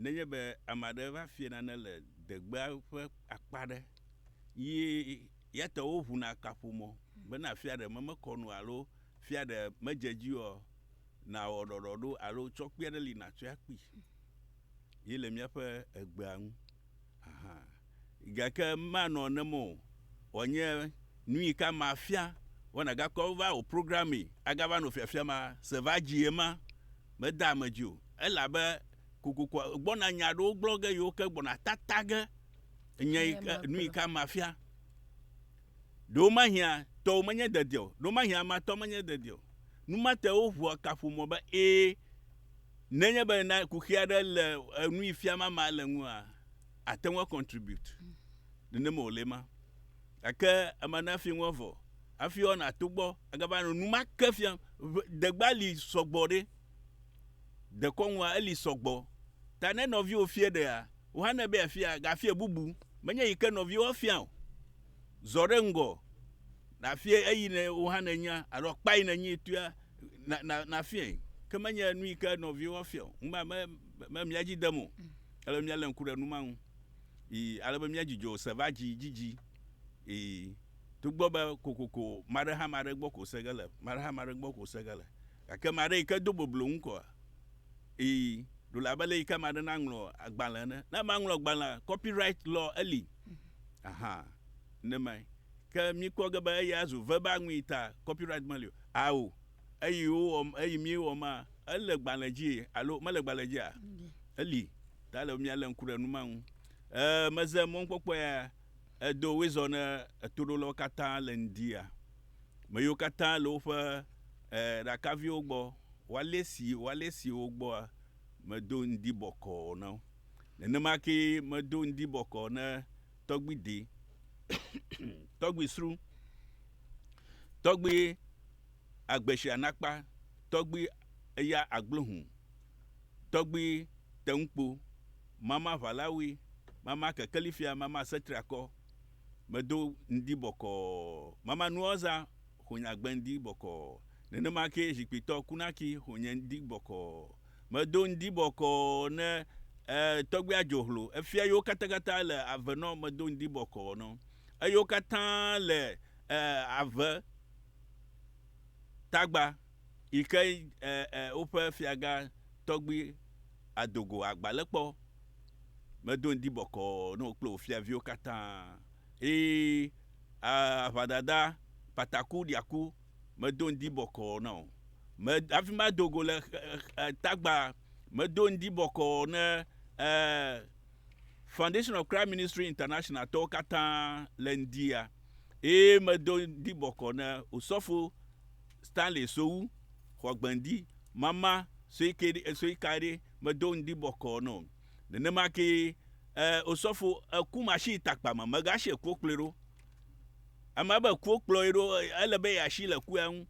Nenye be ame aɖe va fia nane le degbea ƒe akpa aɖe ye yate wo ŋu na kaƒomɔ bena fia ɖe me mekɔ nu alo fia ɖe medze edzi oa, nàwɔ ɖɔɖɔɖo alo tsɔ kpi aɖe li nàtsɔe akpii. Ye le míaƒe egbea ŋu hã. gake manɔ nem o, wòanye nui ka mafia, wo nagakɔ va wò programme agava nɔ fiafia ma se va dzie ma, meda ame dzi o, elabe kokoko gbɔna nya ɖewo gblɔ ge yewo ke gbɔna tata ge nye nui ka mafia. Ɖewo mahia tɔwo menye dedia o, ɖewo mahia ama tɔ menye dedia o. Nu ma te wo ʋua kaƒomɔ be ee, nenye be na kuxi aɖe le nui fiam ama le ŋua, ate ŋu acontribute nenema wòle ema. Gake ema ne hafi ŋu evɔ, hafi woanɔ ato gbɔ agava nɔ nu ma ke fiam. Degba li sɔgbɔ ɖe, dekɔnua eli sɔgbɔ. Ta ne nɔviwo fia ɖea, wò hã ne ebe yeafia, gafia bubu. Menye yi ke nɔviwo afia o. Zɔ ɖe ŋgɔ nàfia eyi ne wò hã nènya alo akpa yi nènyi tɔea na na nafiae. Ke menye nu yi ke nɔviwo afia o. Ŋu ma me me mía dzi dem o. ele be míalé ŋku ɖe nu ma ŋu ii ale be míadzudzɔ se va dzi dzidzi ii togbɔ be kokoko maɖehamãɖe gbɔ ko se ge le, maɖehamãɖe gbɔ ko se ge le. Gake maɖe yi ke do boblo ŋu kɔa? Ii, ɖo le abe le yi ke maɖe naŋlɔ agbalẽ ene. Ne ame ŋlɔ agbalẽa, copyright law eli. Aha, nenemae ke míkpɔ ge be eya zu verbal nui ta copyright meli o. Ao, Eyi wowɔm, eyi míewɔm maa? Ele gbalẽ dzi alo mele gbalẽ dzia? Eli. Ta ele be míalé ŋku ɖe nu ma ŋu. Ee, meze mɔnukpɔkpɔ ya edo Windsor ne etoɖolawo katã le ŋdia, ame yiwo katã le woƒe ee ɖakaviwo gbɔ, woalé si, woalé si wo gbɔa, medo ŋdi bɔkɔɔ na wo. Nenema kee medo ŋdi bɔkɔɔ ne tɔgbui dee, tɔgbui srũ, tɔgbui agbe shia nakpa tɔgbi eya agbló hũ tɔgbi teŋkpo mama ʋalawui mama kekeli fia mama setriakɔ medo ŋdi bɔkɔɔ mama nuɔza hũnye agbe ŋdi bɔkɔɔ nenema kee zhikpitɔ kunaki hũnye ŋdi bɔkɔɔ medo ŋdi bɔkɔɔ ne e tɔgbi adzo hlo efia yiwo katakata le avenɔ medo ŋdi bɔkɔɔ nɔ eyiwo katã le e ave tagba yi ke e, e, woƒe fiagã tɔgbi Adogo agba le kpɔ. Medo ŋdi bɔkɔɔ ne wò kple wò fiaviwo katã. Eye a, aʋadada pataku ɖiaku, medo ŋdi bɔkɔɔ na wò. Me, hafi ma Adogo le e, e, tagba, medo ŋdi bɔkɔɔ ne e, Foundation of Christ Ministry International tɔwo katã le ŋdia. eye medo ŋdi bɔkɔ ne Osɔfo Stanley Sowu xɔ gbeŋdi mama sue ke ɖi sue ka ɖi medo ŋdi bɔkɔ nɔ o. Nenema ke e Osɔfo eku mashi takpa me megashi ekuwo kplɔe ɖo. Ame be ekuwo kplɔe ɖo ele be yeashi le eku ya ŋu.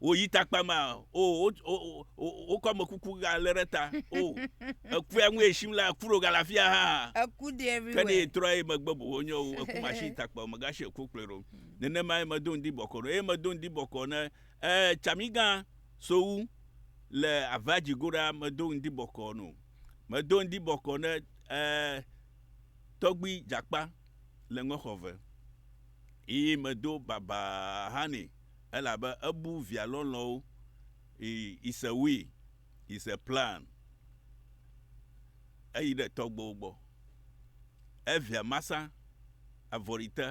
wò yi takpa ma o o o o o kɔ me kuku ga le ɖe ta o eku ya ŋue sim la eku ɖo ga le afi ya hã eku de ke ne everywhere etrɔ eye megbe boho nye o eku ma si takpa o megasi eku kplɔe ɖo nenema ye medo ŋdi bɔkɔ ɖo eye medo ŋdi bɔkɔ ne e tsamigã sowu le ava dzi go ɖa medo ŋdi bɔkɔ no medo ŋdi bɔkɔ ne e tɔgbui dzakpa le ŋexɔ ve yi medo baba hã nɛ elabe ebu via lɔlɔ̃wo i is a we is a plan eyi ɖe tɔgbewo gbɔ evia masa avɔri te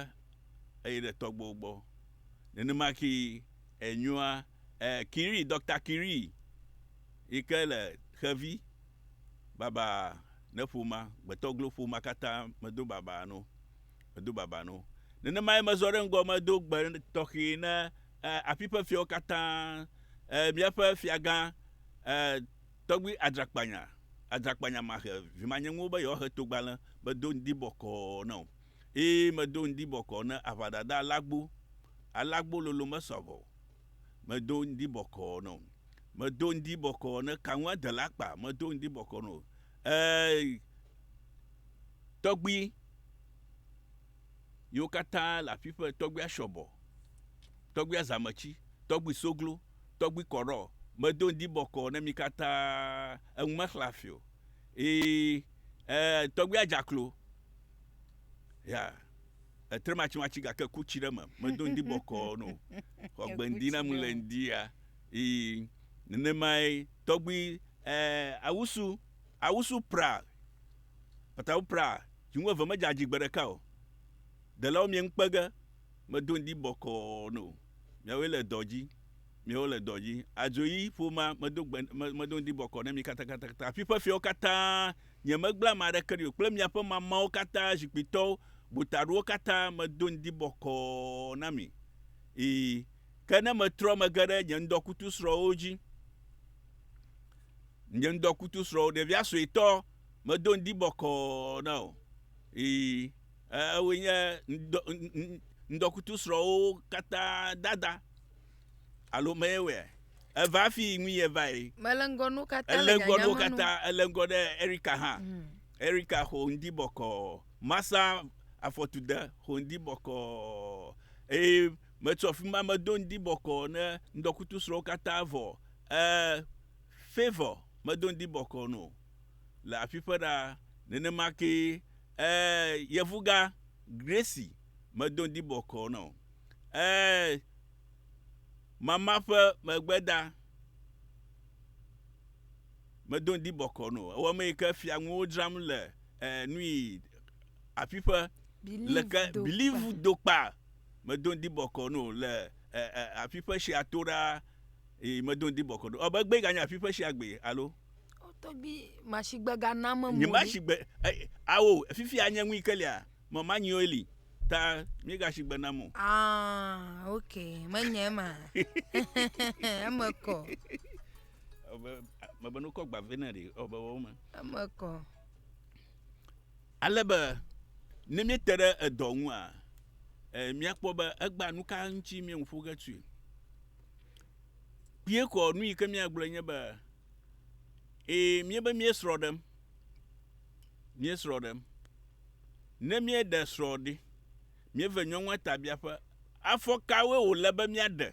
eyi ɖe tɔgbewo gbɔ nenema ki enyua e kiri dɔkta kiri yi ke le xevi baba ne ƒoma gbetɔglo ƒoma katã medo baba no Medo baba no. Nenemae mezɔ ɖe ŋgɔ medo gbe tɔxɛ ne afi ƒe fiawo katã, míaƒe fiagã, Tɔgbui Adzrakpanya, Adzrakpanya Mahe, vimanyeŋuwo be yewoahe togbalẽ. Medo ŋdi bɔkɔɔ na wo. Ẽ, medo ŋdi bɔkɔɔ na aʋadada Alagbo. Alagbo lolo mesɔ vɔ o. Medo ŋdi bɔkɔɔ na wo. Medo ŋdi bɔkɔɔ na Kaŋuadela Akpa. Medo ŋdi bɔkɔɔ na wo. Ɛɛ, tɔgbui yiwo katã le aƒiƒe, tɔgbui ashɔbɔ, tɔgbui azamɛtsi, tɔgbui soglo, tɔgbui kɔɖɔ, medo ŋdi bɔkɔɔ ne mi katã eŋu mexlẽ hafi o. Ii, ɛɛ, tɔgbui adzaklo, ya, etre matsimatsi gake ku tsi ɖe eme, medo ŋdi bɔkɔɔ no. Xɔ gbe ŋdi ne ŋu le ŋdi ya, Ii, nenemae tɔgbui e awusu awusu pra patawu pra dzi ŋueve medze adzi gbe ɖeka o. Delawo mie ŋu kpege medo ŋdi bɔkɔɔ no miawoe le dɔ dzi miawo le dɔ dzi adzoyi ƒoma medo gbe me medo ŋdi bɔkɔ ne mi katakatakata afi ƒe fiawo katã nye megble ame aɖeke ɖi o kple miaƒe mamawo katã zikpuitɔwo gotaɖowo katã medo ŋdi bɔkɔɔ na mi ii Ke ne metrɔ megge ɖe nye ŋdɔkutusrɔ̃wo dzi, nye ŋdɔkutusrɔ̃wo, ɖevia suetɔ, medo ŋdi bɔkɔɔ na o. Ii, ewoe nye ŋdɔ, ŋdɔkutusrɔ̃wo katã dada. Alo me wɔe. Eva afi ŋui evae. Mele ŋgɔ nu katã le nyanya me nu. Ele ŋgɔ nu katã, ele ŋgɔ ɖe Erika hã. Mm. Erika xɔ ŋdi bɔkɔɔ. Masa afɔtude xɔ ŋdi bɔkɔɔ. Eye Metso afi ma medo ŋdi bɔkɔɔ ne ŋdɔkutusrɔ̃wo katã vɔ. Ẽ, Favour, medo ŋdi bɔkɔɔ no le aƒiƒe ɖaa. Nenema kee, ẽ, Yevugã, Gracie, medo ŋdi bɔkɔɔ nɔ. Ẽ, Mama ƒe megbeda, medo ŋdi bɔkɔɔ no. Ewɔ eme yi ke fia nuwo dzram le, ẽ, nui, aƒiƒe. Believe, Leke, dokpa. Believe, dokpa. medo ŋdi bɔkɔ no le e, e, afi ƒe shia to ɖaa, yi medo ŋdi bɔkɔ no. Ɔbe gbe ganye afi ƒe shia gbe alo. Tɔgbi mashigbe ga na me mo. Nye mashigbe, e, awo, fifi anye ŋui ke lia, me ma nyi oili, ta mi ga shigbe na mo. Ah, ok, me nye ma. Eme kɔ. Ɔbe, me be no kɔ gba vene re, ɔbe wo me. Eme kɔ. Ale be ne míete ɖe edɔ ŋua, míakpɔ be egbea nu ka ŋuti míeŋu ƒo ge tsoe. Kpuie ko nu yi ke míagblɔe nye be, ee, míebe míesrɔ̃ ɖem, míesrɔ̃ ɖem. Ne míeɖe srɔ̃ ɖi, míeve nyɔnua tabiaƒe, afɔ kawoe wòle be míaɖe?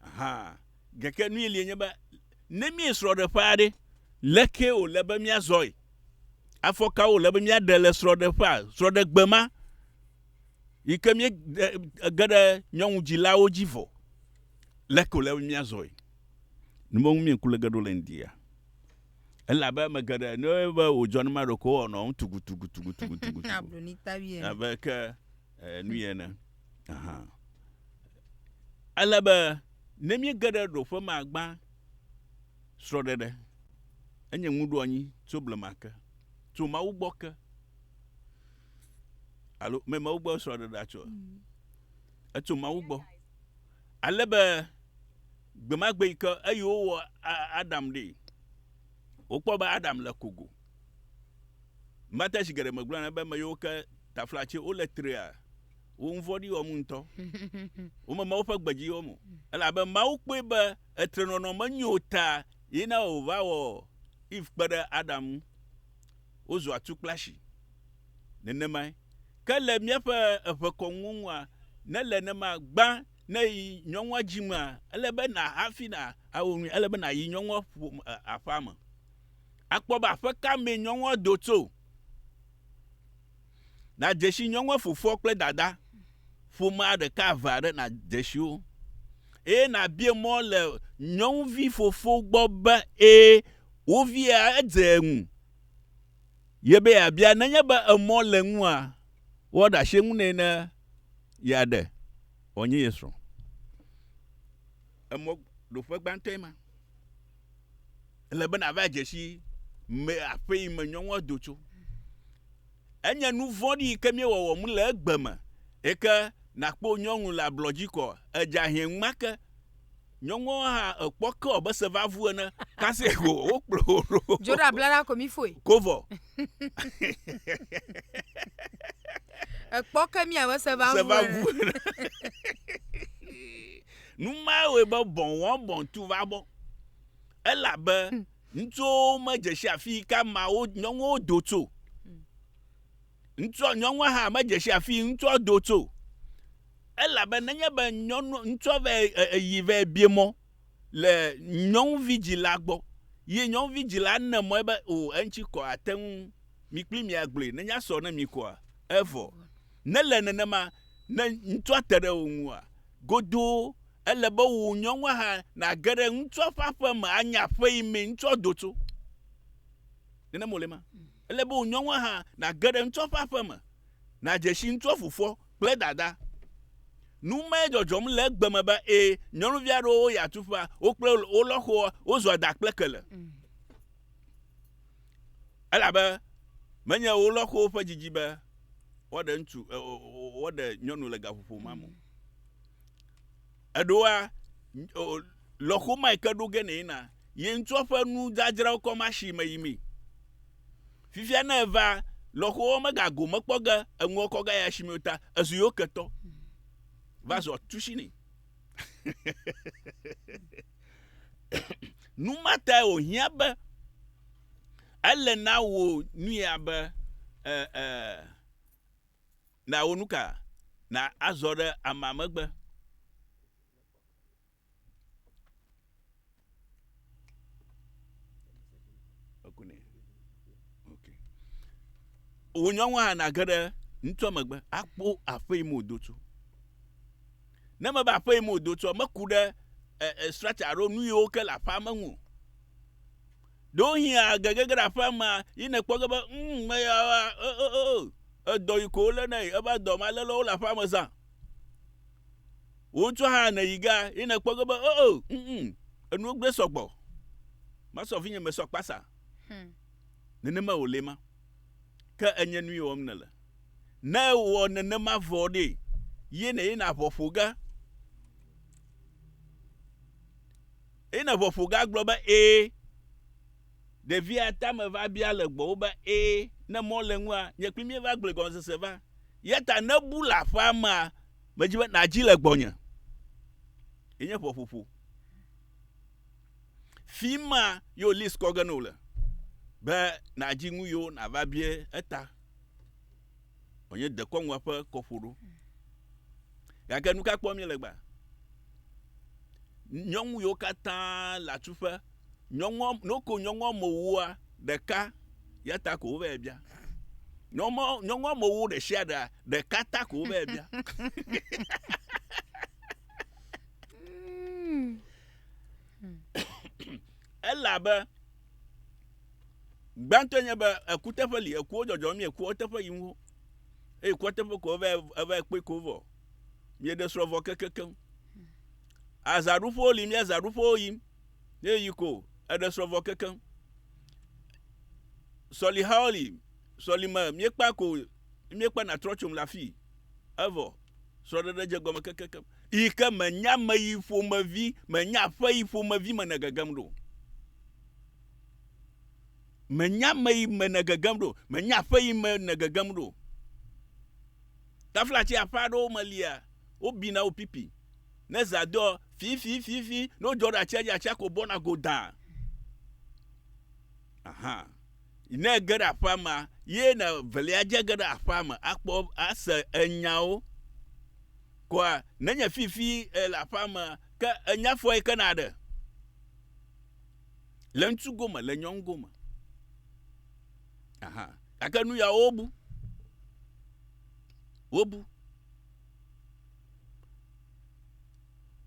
Aha. Gake nui lie nye be, ne míe srɔ̃ɖeƒea ɖe, lekee wòle be míazɔe? Afɔ kawo wòle be míaɖe le srɔ̃ɖeƒea, srɔ̃ɖegbe ma, yi ke míede ge ɖe nyɔnudzilawo dzi vɔ? Leke wòle be míazɔe? Nu me ŋu mie ŋku le ge ɖo le ŋdia? Elabe ame geɖe, ne woyɔe be wòdzɔ ne maɖe ko, wowɔnɔ enu tugutugutugutugutugu abe ke nui ene. hã. Ele be ne míege ɖe ɖoƒe me agbã srɔ̃ɖeɖe. Enye ŋuɖoanyi tso blema ke, tso Mawu gbɔ ke. Alo me Mawu gbɔ srɔ̃ɖeɖea tso? Etso Mawu gbɔ. Ale be gbe ma gbe yi ke eye wowɔ Adam ɖi, wokpɔ be Adam le kogo. Mate zi geɖe megblɔna be ame yiwo ke taflatse wole trea, Wò ŋu vɔ̃ɖi wɔm ŋutɔ. Womema woƒe gbe dzi wɔm o. Elabe Mawu kpɔe be etrenɔnɔ menyo o ta ye na wòva wɔ Eve kpe ɖe Adam ŋu. Wozu atukplashi. Nenemae ke le míaƒe eŋekɔnuwo ŋua? Ne le ne ma, gbã ne yi nyɔnua dzi mea, ele be na hafi na awɔ nui, ele be na yi nyɔnua ƒome e aƒea me. Akpɔ be aƒe ka mee nyɔnua do tso. Nàdze si nyɔnua fofoa kple dada ƒomea ɖeka eve aɖe nàdze si wo, eye nàbia mɔ le nyɔnuvi fofo gbɔ be ẽ wo via edze ŋu ye be yeabia. Nenye be emɔ le eŋua, woaɖe asi eŋu nɛ ne yeaɖe wòanye ye srɔ̃. Emɔ ɖoƒe gbãtɔe ma. Ele be nàva dze si me aƒe yi me nyɔnua do tso. Enye nu vɔ̃ɖi yi ke míewɔ wɔm le egbe me. Eke nakpɔ nyɔnu le ablɔ dzi kɔ, edza hɛn ŋma ke. Nyɔnua hã ekpɔ ke wɔ be se va vu ene. Kasi ko wokplɔ wo ɖo. Dzo ɖe abla la ko mi foe. Ko vɔ. Ekpɔ ke mi abe se va vu ene. Nu mae wɔe be bɔ̃wɔ̃bɔ̃ tu va bɔ, elabe ŋutsuwo medze si afi yi ke ameawo nyɔnuwo do tso. Ŋutsua nyɔnua hã medze si afi ŋutsua do tso, elabe nenye be nyɔnu ŋutsua vɛ eyi vɛ bie mɔ le nyɔnuvi dzila gbɔ, ye nyɔnuvi dzila ne mɔe be o eŋuti kɔ ate ŋu mi kpli mi agblɔe nenye asɔ ne mi koa, evɔ. Nele nenema ne ŋutsua te ɖe wò ŋua? Godoo! Ele be wò nyɔnua hã nage ɖe ŋutsua ƒe aƒe me anye aƒe yi mee ŋutsua do tso. Nenem wòle ema. Ele be wò nyɔnua hã nage ɖe ŋutsua ƒe aƒe me, nàdze si ŋutsua fofoa kple dadaa. Nu mae dzɔdzɔm le egbe me be, ẽ, nyɔnuvi aɖewo woyi atuƒea, wo kple wo lɔxoa wozua da kple kele. Elabe menye wolɔxowo ƒe didi be woaɖe ŋutsu e, woaɖe nyɔnu le gaƒoƒo ma me. Eɖoa lɔxo ma ke ɖo ge nɛ na ye ŋutsua ƒe nudzadzrawo kɔ ma si me yi mee. Fifia ne eva lɔxowo megago mekpɔ ge eŋuwo kɔ ge ya si me ta ezu yewo ketɔ va zɔ tusi nɛ. nu ma tae wòhiã be ele na wò nuya be nàwɔ nu ka na azɔ ɖe amea megbe wò nyɔnu hã nage ɖe ŋutsua megbe akpɔ aƒe yi me wòdo tso. Ne mebe aƒe yi me wòdo tso, meku ɖe e, structure alo nu yiwo ke le aƒea me ŋu. Ɖewohĩ age gege ɖe aƒea mea, yi nekpɔ ge be, mm, meya, edɔ yi ko wole na yi, ebe dɔ ma lele wole aƒea me zã. wotsɔ hã ne yi ga ye ne kpɔ ge be oh oh mm mm enu gbe sɔgbɔ masɔ vinye me sɔ kpasa hmm. nenema wòle ma ke enye nu yewɔm ne le ne wɔ nenema vɔ ɖe ye ne ye na ʋɔ ƒo ge ye na ʋɔ ƒo ge agblɔ be ee Ɖevia tame va bia le gbɔwò be, Ẽ, ne mɔ le ŋua, nye kpli míeva gblɔe gɔmesese va. Yeta nebu le aƒea mea, medi be nàdzi le gbɔnye. Enye ƒeƒoƒo. Fima ye wo list kɔ ge ne wòle be nàdzi nu yewo nàva bia eta. wònye dekɔnua ƒe kɔƒoɖo. Gake nu ka kpɔm míele gbea? Nyɔnu yiwo katã le atsuƒe, nyɔnua, noko nyɔnua me wua ɖeka ya ta ko wova bia. Nyɔnua, nyɔnua me wu ɖe sia ɖea, ɖeka ta ko wova bia. Elabe Gbãtɔe nye be eku teƒe li, ekuwo dzɔdzɔ mie kua teƒe yim wo. Eye kua teƒe ko eva eva kpɔe ko vɔ. Mieɖe srɔ̃ vɔ kekekeŋ. Azaɖuƒewo li mia zaɖuƒewo yim. Ne yi ko eɖe srɔ̃ vɔ kekeŋ. Sɔlihawo li sɔlime miekpa ko miekpa natrɔ tsom le afii. Evɔ srɔ̃ɖeɖe dze gɔme kekekeŋ. Yi ke menye ame yi ƒomevi, menye aƒe yi ƒomevi me nègegem ɖo. Menye ame yi me nègegem ɖo, menye aƒe yi me nègegem ɖo. Taflatsi aƒe aɖewo me lia, wobina wo pipi. Ne zã doa, fifififi, ne wodzɔ ɖe atsia dzi, atsia ko bɔna godãa. Aha. Ne ege ɖe aƒea mea, ye na velia dze ge ɖe aƒea me akpɔ ase enyawo. Koa nenye fifi ele aƒea me ke enya fɔe ke na ɖe? Le ŋutsu gome, le nyɔnu gome. Aha. Gake nu yawo wobu. Wobu.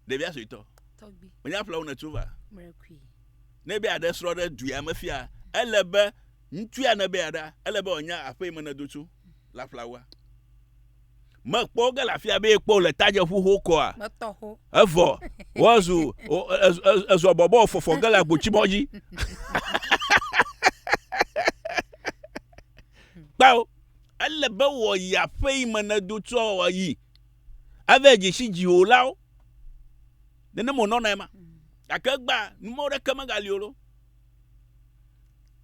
Ɖevia suetɔ. Tɔgbi. Wònye aƒle wo nètso va. Mrekui. Ne be aɖe srɔ̃ ɖe du ya me fia, ele be ŋutsu ya ne be aɖa, ele be wòanya aƒe yi me nèdo tso le aƒla woa. Mekpɔ wo ge le afia be ekpɔ le tadzeƒu ho kɔa. Metɔ ho. Evɔ, wozu, ezɔ bɔbɔ fɔfɔ ge le agbotsibɔ dzi. Kpao, ele be wòyi aƒe yi me nèdo tso wòayi. Ave dzesi dziwòlawo. Nenem wònɔ na ema. Gake egbea, numɔwo ɖeke megali o ɖo.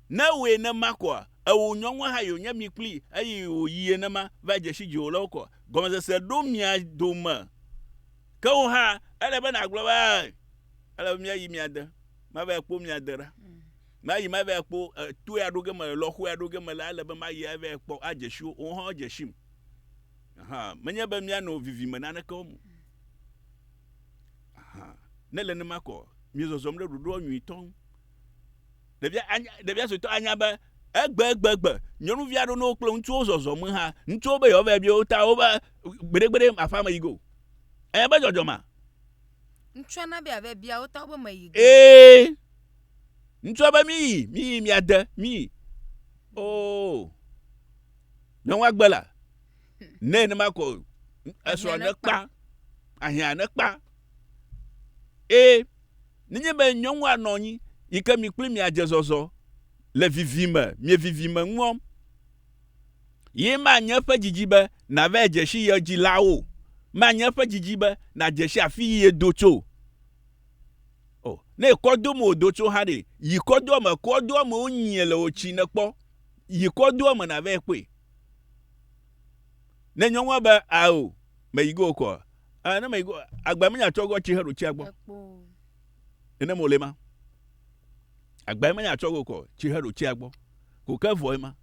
Ne wòe nema koa, ewò nyɔnua hã yònye mi kpli eye wòyie nema va dzesi dziwòlawo koa, gɔmesese ɖo mia dome. Ke wò hã, ele be nàgblɔ be, Ae, ele be míayi mia de, mavae akpɔ mia de ɖa. Mayi mavae akpɔ toea ɖo ge mele, lɔxoea ɖo ge mele, ele be mayi avae akpɔ, adzesi wo, woawo hã woadzesim. Aha, menye be míanɔ vivime naneke wɔm o. Aha, ne le nema kɔ, miezɔzɔm ɖe ɖoɖoa nyuitɔ ŋu. Ɖevia, anya, ɖevia suetɔ anya be egbegbe nyɔnuvi aɖewo ne wokple ŋutsuwo zɔzɔ me ha, ŋutsuwo be yewoava bia wo ta wobe gbeɖegbeɖe aƒea me yi go. Anya be dzɔdzɔ ma. Ŋutsua na be yeava bia wo ta wobe me yi go. Ee. Ŋutsua be miyi, miyi, miade, miyi. Oh. Ne woagbe la, ne ne makɔ esrɔ̃ ne kpa, ahiã ne kpa. Eye nenye be nyɔnua nɔ anyi yi ke mi kple miadze zɔzɔ le vivi me, mievivi me ŋuɔ, ye manye eƒe didi be nava dze si ye dzilawo, manye eƒe didi be nadze si afi yi yedo tso. Oh, ne kɔdo me odo tso ha ɖe, yi kɔdoa me, kɔdoa me wonyie le otsi ne kpɔ, yi kɔdoa me na vɛ kpɔe. Ne nyɔnua be, ao, me yi go kɔ, ah, ne me yi go, agba menya tsɔ go tsi he ɖo tsia gbɔ. Ene mo le ma. Agba menya tsɔ go kɔ tsi he ɖo tsia gbɔ. Ko ke vɔ ema.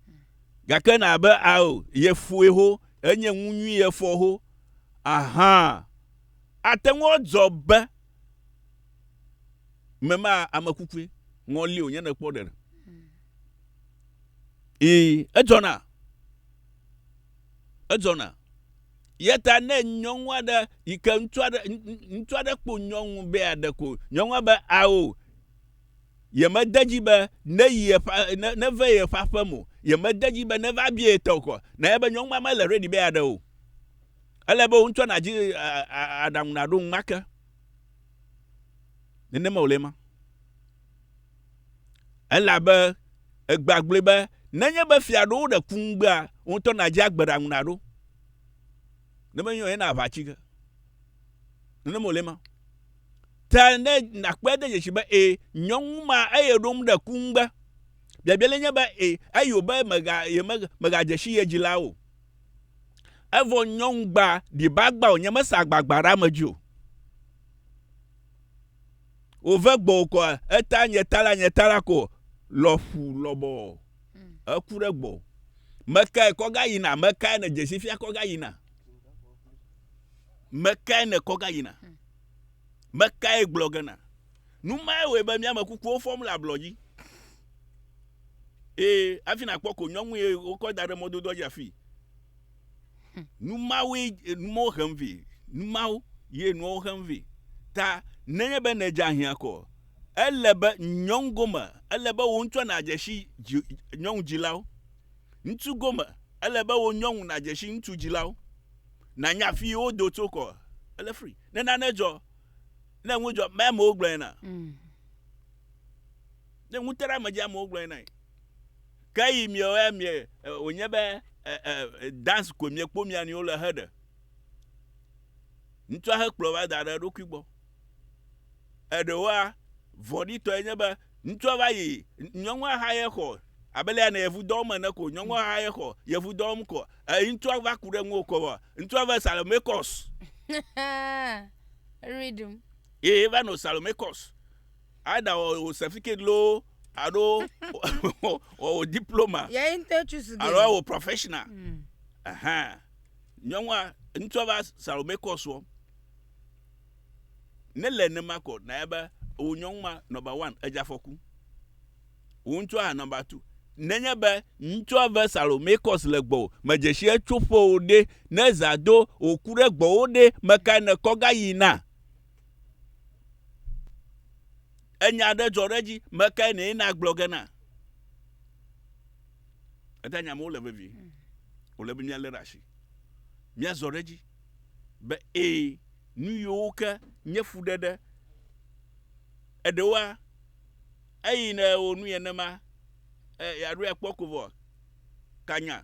Gake na be, ao, ye fue ho, enye ŋu nyui ye fɔ ho. Aha. Ate ŋu adzɔ be mema ame kukue ŋɔli wònye ne kpɔ ɖeɖe. Ee, edzɔna. Edzɔna. Yeta ne nyɔnu aɖe yi ke ŋutsu aɖe ŋutsu aɖe kpo nyɔnu be aɖe ko nyɔnua be ao yemede dzi be ne yi eƒe ne neve ye eƒe aƒe mo yemede dzi be neva bia ye tɔkɔ na ye be nyɔnua mele ready be aɖe o. Ele be wò ŋutɔ nàdzi aɖaŋu nàɖo ŋu ake. Nenema wòle ema. Elabe egbea gblɔe be nenye be fia ɖo woɖe ku ŋugbea, wò ŋutɔ nàdzi agbe ɖaŋu nàɖo. Ne menye o, ena aʋatsi ge. Nenema wòle ema. Ta ne nàkpɔe ade dzesi be ee, nyɔnu ma eye ɖo ŋu ɖe ku ŋugbe. Biabia le nye be ee, eyo be mega, yemega, megadze si ye dzila o. Evɔ nyɔŋugba ɖiba gba o, nyemese agbagba ɖe ame dzi o. Wòve gbɔwò kɔ, eta nye ta la, nye ta la ko lɔƒu lɔbɔ. Eku ɖe gbɔ. Mekae kɔ ga yina? Mekae ne dzesi fia kɔ ga yina? Mekae ne kɔ ga yina? Mekae gblɔ gena? Nu mae wɔe be mía ame kukuwo fɔm le ablɔ dzi. Ee, hafi nàkpɔ ko nyɔnui ye wokɔ da ɖe mɔdodoa dzi afii. Nu mawoe e, nu mawo hem vɛ. Nu mawo ye nuawo hem vɛ. Ta nenye be nèdze ahiã ko, ele be nyɔnu gome, ele be wò ŋutsua nàdze si dzi, nyɔnu dzilawo. Ŋutsu gome, ele be wò nyɔnu nàdze si ŋutsu dzilawo. Nànya afi yi wodo tso ko, ele free. Ne nane dzɔ, ne nu dzɔ, mea mewo gblɔe na. Mm. Ne ŋuteɖeamedziamewo gblɔe nae. Ke yi miawo ya mie wònye be e, e, e, dance koe miekpɔ mia nɔewo le heɖe. Ŋutsua hekplɔ va da ɖe eɖokui gbɔ. Eɖewoa, vɔ̃ɖitɔe nye be ŋutsua va yi nyɔnua xa ye xɔ abe lea ne yevu dɔm ene ko nyɔnua xa ye xɔ yevu dɔm ko e, ŋutsua va ku ɖe ŋuwò kɔ vɔ ŋutsua va salome kɔs. Rhythm. Ye va nɔ salome kɔs. Aida wɔ wò certificate loo alo wɔ wò diploma. Yɛ yi ŋutɔ tsu su ge. Alo wɔ wò professional. Ɛhɛn. Nyɔnua, ŋutsua va Salome kɔ srɔ̃. Ne le nenema kɔ, nanya be wò nyɔnu ma number one edze afɔku. Wò ŋutsua hã number two. Nenye be ŋutsua ve Salome kɔs le gbɔwò, medze shi etso ƒe o ɖe, ne zã do wòku ɖe gbɔwò ɖe, mekae nèkɔ gayi na? Enya aɖe dzɔ ɖe edzi, mekae nɛ nagblɔ ge na? Eda nya amewo le vevie. Wòle be míalé ɖe asi. Míazɔ ɖe edzi be ee, nu yiwo ke nye fuɖeɖe, eɖewoa, eyi ne wò nu yenema, e, yeaɖoe akpɔ ko vɔ. kanya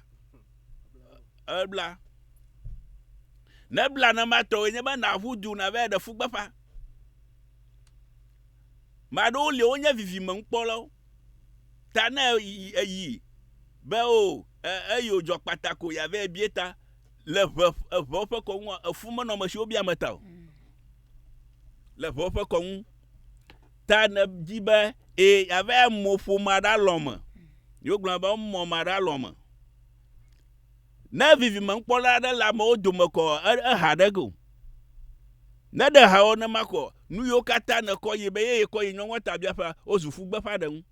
ebla nebla ne matɔe nye be naʋu du nava ɖe fugbeƒa maɖewo li wonye vivime ŋkpɔlawo ta ne eyi be o oh, eyo dzɔ kpata ko yave bie ta le ʋe eʋewo ƒe kɔŋua efu menɔmesiwo bia me ta o le ʋewo ƒe kɔŋu Ta nèdi be ẽ yeava yi mò ƒome aɖe alɔ me. Ye wogblɔna be emɔ me aɖe alɔ me. Ne vivimenukpɔla aɖe le amewo dome kɔ eha ɖe ge o. Ne ɖe ha wɔ nema kɔ nu yiwo katã nèkɔ yi be ye yekɔ yi nyɔnua ta biaƒea wozu ƒu gbeƒã ɖe ŋu.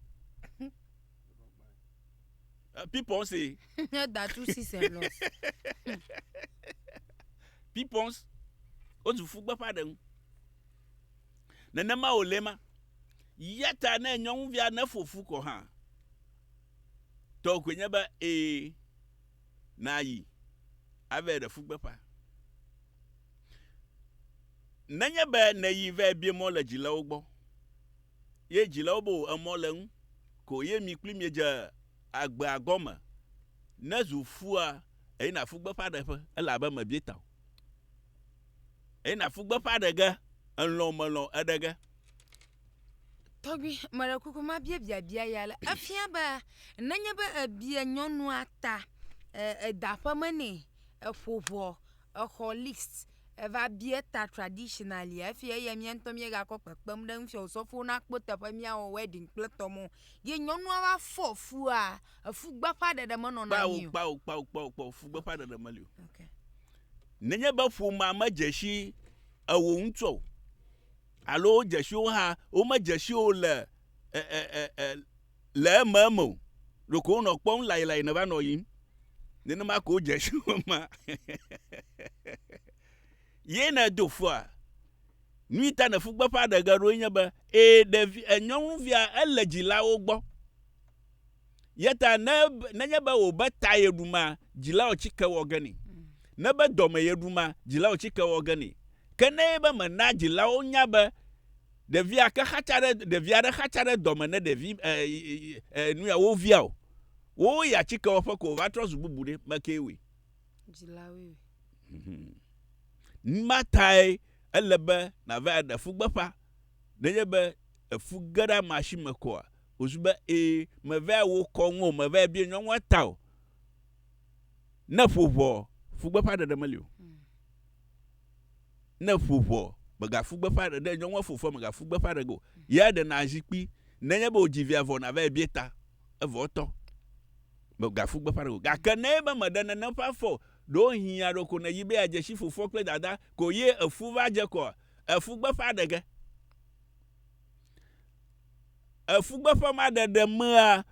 Pipons e. Ne da tu si se lɔ. Pipons wozu ƒu gbeƒã ɖe ŋu. Nenema wòle ema. Ya ta ne nyɔnuvia neƒo fu kɔ hã, tɔ koe nye be ee, nàyi ave ɖe fu gbeƒã. Nenye be nèyi vɛ bie mɔ le dzilawo gbɔ, ye dzilawo be wò emɔ le ŋu ko ye mi kpli miedze agbea gɔme nezu fua, èyina fu gbeƒã ɖeƒe elabe mèbie ta o. Eye nàfu gbeƒã ɖe ge, èlɔ̃ mèlɔ̃ eɖe ge. Tɔgbui, meɖe kuku mabia biabia ya le. Efia be nenye be èbia nyɔnua ta, èda aƒeme nɛ, èƒo ʋɔ, èxɔ list, èva bia ta traditionally hafi eya mía ŋutɔ míegakɔ kpekpem ɖe eŋuti o, sɔfowo nakpɔ teƒe míawɔ wedding kple tɔmɔ ye nyɔnua va fɔ fua, efugbeƒãɖeɖe menɔna anyi o. Kpao, kpao, kpao, kpao, kpao, fugbeƒãɖeɖe meli o. Okay. Nenye be ƒomea medze si eo ŋutɔ o alo wodze si wo hã womedze si eo le e, e, e, e, le ememe o, ɖeko wonɔ kpɔm layilayi nèva nɔ yiyim. Nenema ko wodze si wo ma. Ye nèdo fua. Nui ta nèƒu gbeƒã ɖe ge ɖoe nye be, ee, ɖevi, enyɔnuvia ele dzilawo gbɔ. Yeta ne nenye be wòbe ta yeɖu ma, dzilao tsike wɔ ge nɛ. Ne be dɔme yeɖu ma, dzilao tsike wɔ ge nɛ. Ke ne be mena dzilao nya be ɖevia ke xatsa ɖe ɖevia ɖe xatsa ɖe dɔme ne ɖevi e, e, e, nuya wo via o, wo ya tsike wɔƒe ko wòva trɔ zu bubu ɖe, mekee wɔe. Dzilawoe wɔe. Mhm. Numa tae ele be nàva ɖe fu gbeƒã. Nenye be efu ge ɖe amea si me koa, Wòzu be, Ee, mèvea wò kɔ ŋu o, mèvea bia nyɔnua ta o. Ne ƒo ʋɔ, fu gbeƒã ɖeɖe meli o. Ne ƒo ʋɔ, mègafu gbeƒã ɖe, ne nyɔnua ƒo ƒua, mègafu gbeƒã ɖe ge o. Yea ɖena zikpui. Nenye be wòdzi via vɔ nàvae bia ta, evɔ etɔ. Mègafu gbeƒã ɖe ge o. Gake ne ebe mèɖe nene ƒe afɔ o, ɖewohĩ ya ɖo ko nèyi be yeadze si fofoa kple dadaa ko ye èfu va dze kɔa, èfu gbeƒã ɖe ge. efugbe ƒe maɖeɖe mea,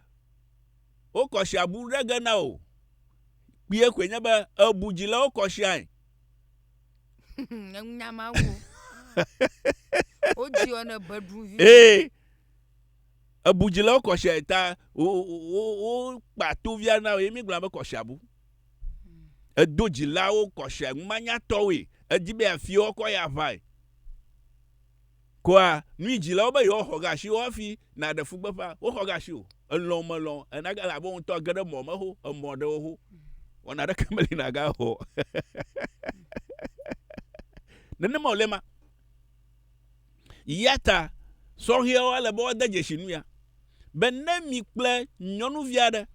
wokɔ si abu ɖe ge na wò. Kpuie koe nye be èbu dzi le wo kɔ siae. Eŋu nya ma wo. Wodzi wɔ ne beɖu vi. Ee. Ebu dzi le wo kɔ siae ta wokpa tovia na wò ye mi gblɔ be kɔ si abu. Edo dzilawo kɔ sia ŋumanyatɔwoe. Edi be afi wɔkɔ ya ʋae. Koa nui dzilawo be yewoaxɔ ge asi wo hafi naɖe fugbeƒea? Woxɔ ge asi o. Elɔ̃ o melɔ̃ o, ena ge elabe wo ŋutɔ age ɖe mɔ me ho emɔ ɖewo ho. Wɔna aɖeke meli nàgawɔ o. Nenema wòle ema. Eya ta sɔhɛawo ele be woade dzesi nu ya be ne mi kple nyɔnuvi aɖe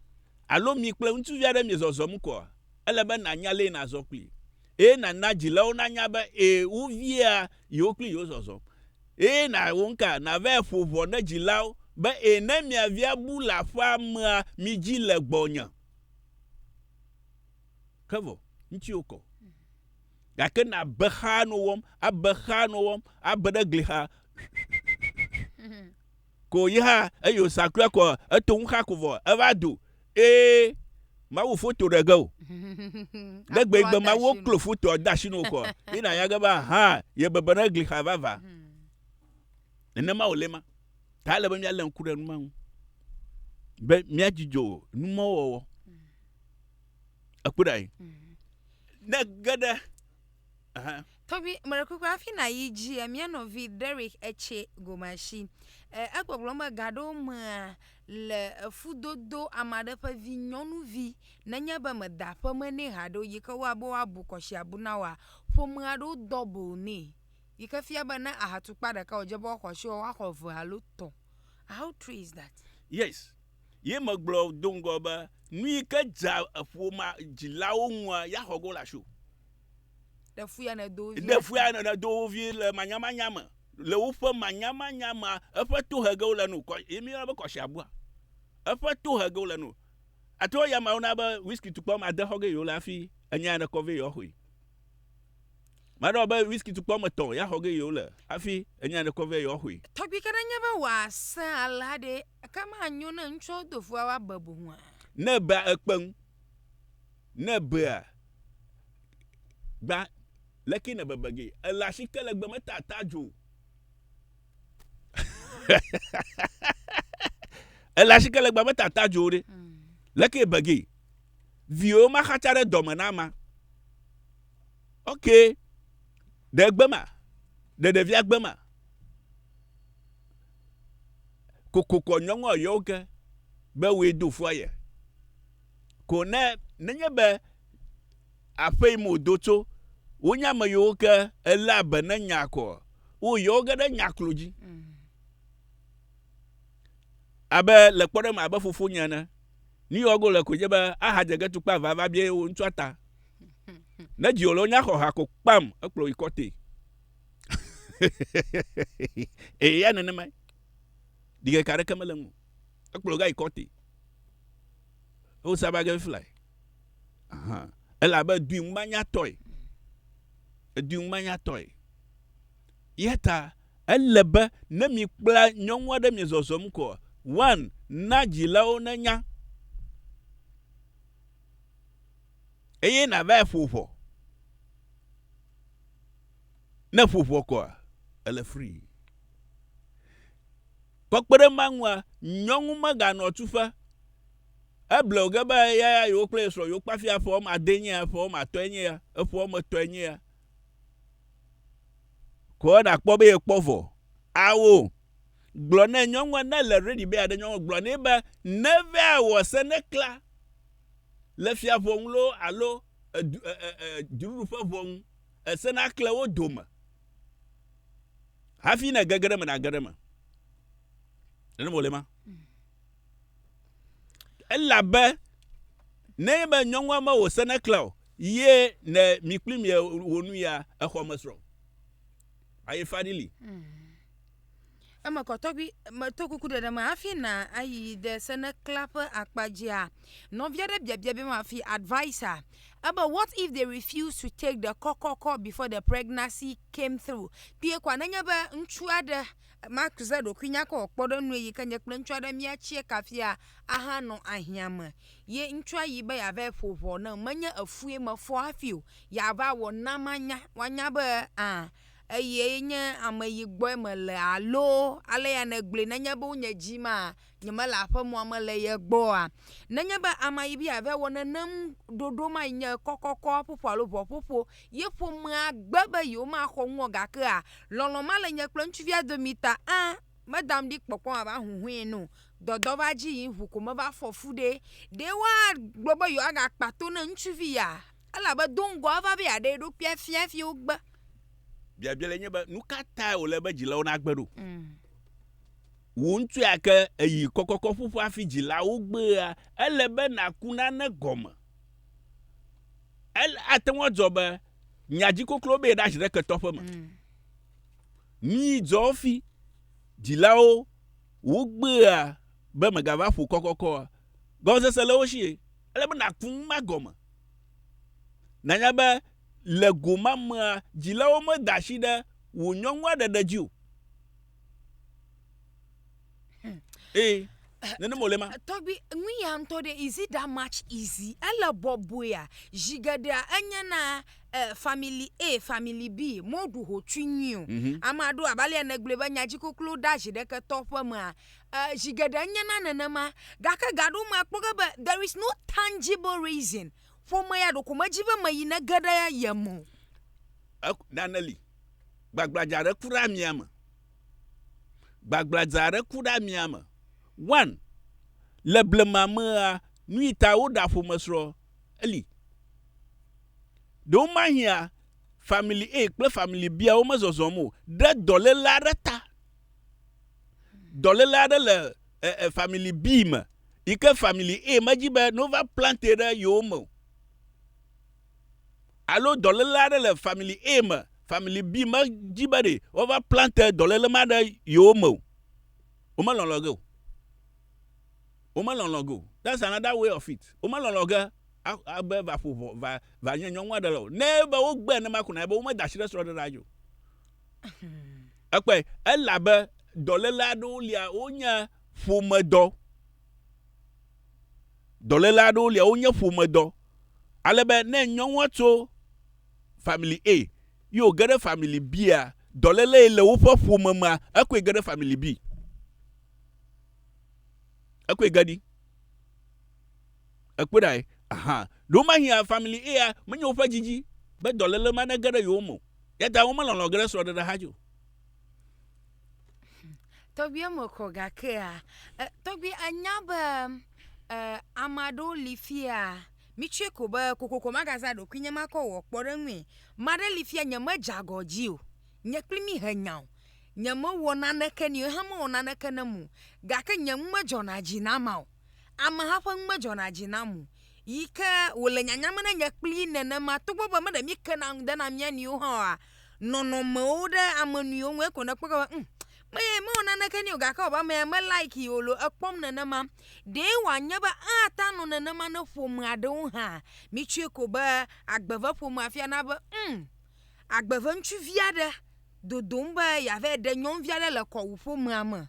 alo mi kple ŋutsuvi aɖe miezɔzɔm koa, ele be nànya lee nàzɔ kplii. eye nàna dzilawo nanya be ẽ, woviea yewo kple yewo zɔzɔm, eye na wo ŋka, navae ƒo ʋɔ ne dzilawo be ẽ, ne mia via bu le aƒea mea, midzi le gbɔnye. Ke vɔ, ŋutsuwo kɔ. Gake nàbe xaa nɔ wɔm, abe xaa nɔ wɔm, abe ɖe gli xa. ko yi hã eyo sakua ko eto ŋu xa ko vɔ eva do e mawu foto ɖe ge o ne gbe gbe mawu klo foto da shi no ko yi na ya ge ba ha ye bebe ne gli xa va va ne mawu le ma ta le be mia le ŋku ɖe nu ma ŋu be mia dzidzo nu ma wɔwɔ ekpɔ ɖa yi ne ge ɖe Ɛhɛ. Tɔgbi mele kpekpe afi na yi dzi mia nɔvi Derek etsɛ gomashi. Egbɔgblɔ me gaɖo mea le efudodo amaɖe ƒe vi nyɔnuvi nenye be meda ƒe me nɛ haɖo yi ke woa be woabu kɔshiabu na woa ƒomea ɖo double nɛ yi ke fia be ne aha tukpa ɖeka wodze be woaxɔ shi woaxɔ eve alo tɔ. How true is that? Yes. Ye me gblɔ do ŋgɔ be nuyi ke dza eƒoma dzilawo ŋua ya xɔ go le asio. ɖe fia nèdo wo vi ɖe fia nèdo wo vi le manyamanya me le woƒe manyamanya me eƒe tohegewo le nu yi mi be kɔsi abua eƒe tohegewo le nu ato ya mawo na be whisky tukpɔ ma de xɔge yewo le afi enya ne kɔve yewo xɔe maɖɔ be whisky tukpɔ me tɔn ya xɔge yewo le afi enya ne kɔve yewo xɔe tɔgbi ke ne nye be wòase alea ɖe ke manyo ne ŋutsuawo do fua woabe boŋua ne bea ekpeŋ ne bea Gba leke ne bebe ge. Ele asi ke le gbe me ta ta jo. Ele asi ke le gbe me ta ta jo de. Mm. Leke bege. Viwo ma xatsa ɖe dɔme na ma. Ok. Ɖe gbe ma. Ɖe ɖevia gbe ma. Kokokɔ nyɔnua yɔ ke be we do fua ye. ko ne nenye be aƒe yim wòdo tso, wonye ame yiwo ke eléa be ne nyaa kɔ, wo yewo ge ɖe nya klo dzi. Mm. Abe le kpɔɖe me abe fofonye ene. Nu yi wɔgo le koe nye be ahadze ge tukpa va va bia wo ŋutsua ta. Ne dzi wòle wonya xɔ ha ko kpam ekplɔ yi kɔte. Eya nenemae. Ɖike ka ɖeke mele ŋu. Ekplɔ ga yi kɔte. Wo saba ge fly. Aha. Elabe dui ŋumanyatɔe. Edui ŋumanyatɔe. Ya ta ele be ne mi kpla nyɔnua ɖe mi zɔzɔm kɔ, one, na dzilawo ne nya. Eye na va ƒo ƒɔ. Ne ƒo ƒɔ kɔa, ele free. Kpɔkpɔ ɖe ema ŋua, nyɔnu meganɔ tuƒe. Eble wo ge be eya ya yewo kple ye srɔ̃ yewo kpe hafi eƒe wɔme adee nye ya, eƒe wɔme atɔ̃e nye ya, eƒe wɔme etɔ̃e nye ya. Ko ena kpɔ be yekpɔ vɔ. Ao! Gblɔ nɛ nyɔnua ne le ready be yeaɖe nyɔnua, gblɔ nɛ be neva awɔ se ne kla le fia ŋu loo alo edu e e e dziɖuɖu ƒe ŋu ese nakle wo dome Hafi ne gege ɖe me nage ɖe me. Nene wòle ma. Elabe ne be nyɔnua me wò sene klẽ o, ye ne mi kpli mi wò nu ya exɔ me srɔ̃. Aye fari li. Mm. Eme kɔ tɔgbi meto kuku ɖeɖe me hafi na ayi ɖe senekla ƒe akpa dzia. Nɔvi aɖe biabia be ma fi advisa ebe what if they refuse to take the kɔkɔkɔ before the pregnancy came through. Kpee kɔa nenye be ŋutsu aɖe maze ɖokui nya kɔ kpɔ ɖe nue yi ke nye kple ŋutsu aɖe miatsie kafia ahanɔ ahiã me ye ŋutsua yi be yeava ƒo ʋɔ nam menye efue mefɔ hafi o yeava wɔ na manya woanya be a. eye nye ame yi gbɔe mele alo ale ya nègblɔe nenye be wonye dzi ma nyemele aƒemɔa me le ye gbɔa? Nenye be amea yi be yeava wɔ nenem ɖoɖo ma yi nye kɔkɔkɔ ƒoƒo alo ʋɔƒoƒo ye ƒomea gbe be yewomaxɔ ŋu o gakea lɔlɔ̃ male nye kple ŋutsuvia domi ta ã medam ɖi kpɔkpɔ mava huhɔ̃e nu o. Dɔdɔ va dzi yim ŋu ko meva fɔ fu ɖee. Ɖe woagblɔ be yewoagakpa to na ŋutsuvi ya? Elabe do ŋgɔ eva be yeaɖe eɖokui afia hafi wogbe. Biabia le nye be, nu ka tae wòle be dzilawo nagbe ɖo? Mm. Wò ŋutsu ya ke èyi kɔkɔkɔ ƒuƒu hafi dzilawo gbea, ele be nàku nane gɔme. Ele, ate ŋu adzɔ be nya dzi koklo be yeɖazi ɖe ketɔƒe me. Mm. Nui dzɔ hafi dzilawo wogbea be megava ƒu kɔkɔkɔa, gɔmesese le wo si. Ele be nàku nu ma gɔme. Nànya be le go ma mea, dzilawo meda asi ɖe wò nyɔnua ɖeɖe dzi o. Hmm. Ee. Nenema wòle ma. Tɔgbi, nu ya ŋutɔ ɖe, is it that much easy? Ele bɔbɔea, zi geɖea enye na eh, family A, family B, moɖu hotsui nyui o. Mm -hmm. Ame aɖewo abe alea nègblɔe be nyadzikoklo ɖe azi ɖeke tɔ ƒe mea, Eh, zi geɖe enye na nenema. Gake ga aɖewo me akpɔ ge be there is no tangible reason. Ƒome ya ɖeko medzi be meyi nege ɖe ye me o. E, nane li. Gbagbladza aɖe ku ɖe amia me. Gbagbladza aɖe ku ɖe amia me. One, le blema mea, nuyi ta woɖa ƒomesrɔ̃ eli. Ɖewomahia Family A kple Family B-awo mezɔzɔm o ɖe dɔléle aɖe ta. dɔlele aɖe le eh, eh, family B me yi ke family A medzi be nova plante ɖe yewo me o. Alo dɔlele aɖe le family A me, family B medzi be ɖe wova plante dɔlele ma ɖe yewo me o. Womelɔlɔ ge o. Womelɔlɔ ge o. That's another way of it. Womelɔlɔ ge abe va ƒo ʋɔ va va nye nyɔnu aɖe le o. Ne be wogbe ne ma ko na be womeda asi ɖe srɔ̃ɖeɖea dzi o. Ekpɔe, elabe dɔléle aɖewo lia, wonye ƒomedɔ. Dɔléle aɖewo lia, wonye ƒomedɔ. Ale be ne nyɔnua tso family A ye wòge ɖe family B-a, dɔlélee le woƒe ƒome mea, ekɔe ge ɖe family B. Ekɔe ge ɖi. Èkpɔe ɖae? Aha! Ɖe womahia family eya menye woƒe didi be dɔléle ma nege ɖe yewo me o, eya ta womelɔ̃lɔ̃ ge ɖe srɔ̃ɖeɖe xa dzi o. Tɔgbuia me kɔ gakea tɔgbui enya be ame aɖewo li fiya mitsɔe ko be kokoko magazã ɖokui nye makɔ wɔ kpɔɖeŋui. Ame aɖe li fiya nye medze agɔ dzi o, nye kple mi he nya o, nye mewɔ naneke nɛ o, ye hã mewɔ naneke ne eme o gake nye nu medzɔna dzi na ma o. ameha ƒe nu medzɔna dzi nam o yi ke wòle nyanyam ne nye kplii nenema togbɔ be me ɖe míke na ŋu dena mía nɔewo hã oa, nɔnɔmewo ɖe ame nɔewo ŋu eko nèkpɔ gbe be ŋ, meye mewɔ naneke nɛ o gake wɔ abe amea me likee o loo ekpɔm nenema. Ɖee wòanye be ate ŋu anɔ nenema ne ƒome aɖewo hã. Mitsɔe ko be agbe ve ƒomea afia na be ŋ, agbe ve ŋutsuvi aɖe dodom be yeava ɖe nyɔnuvi aɖe le kɔwò ƒomea me.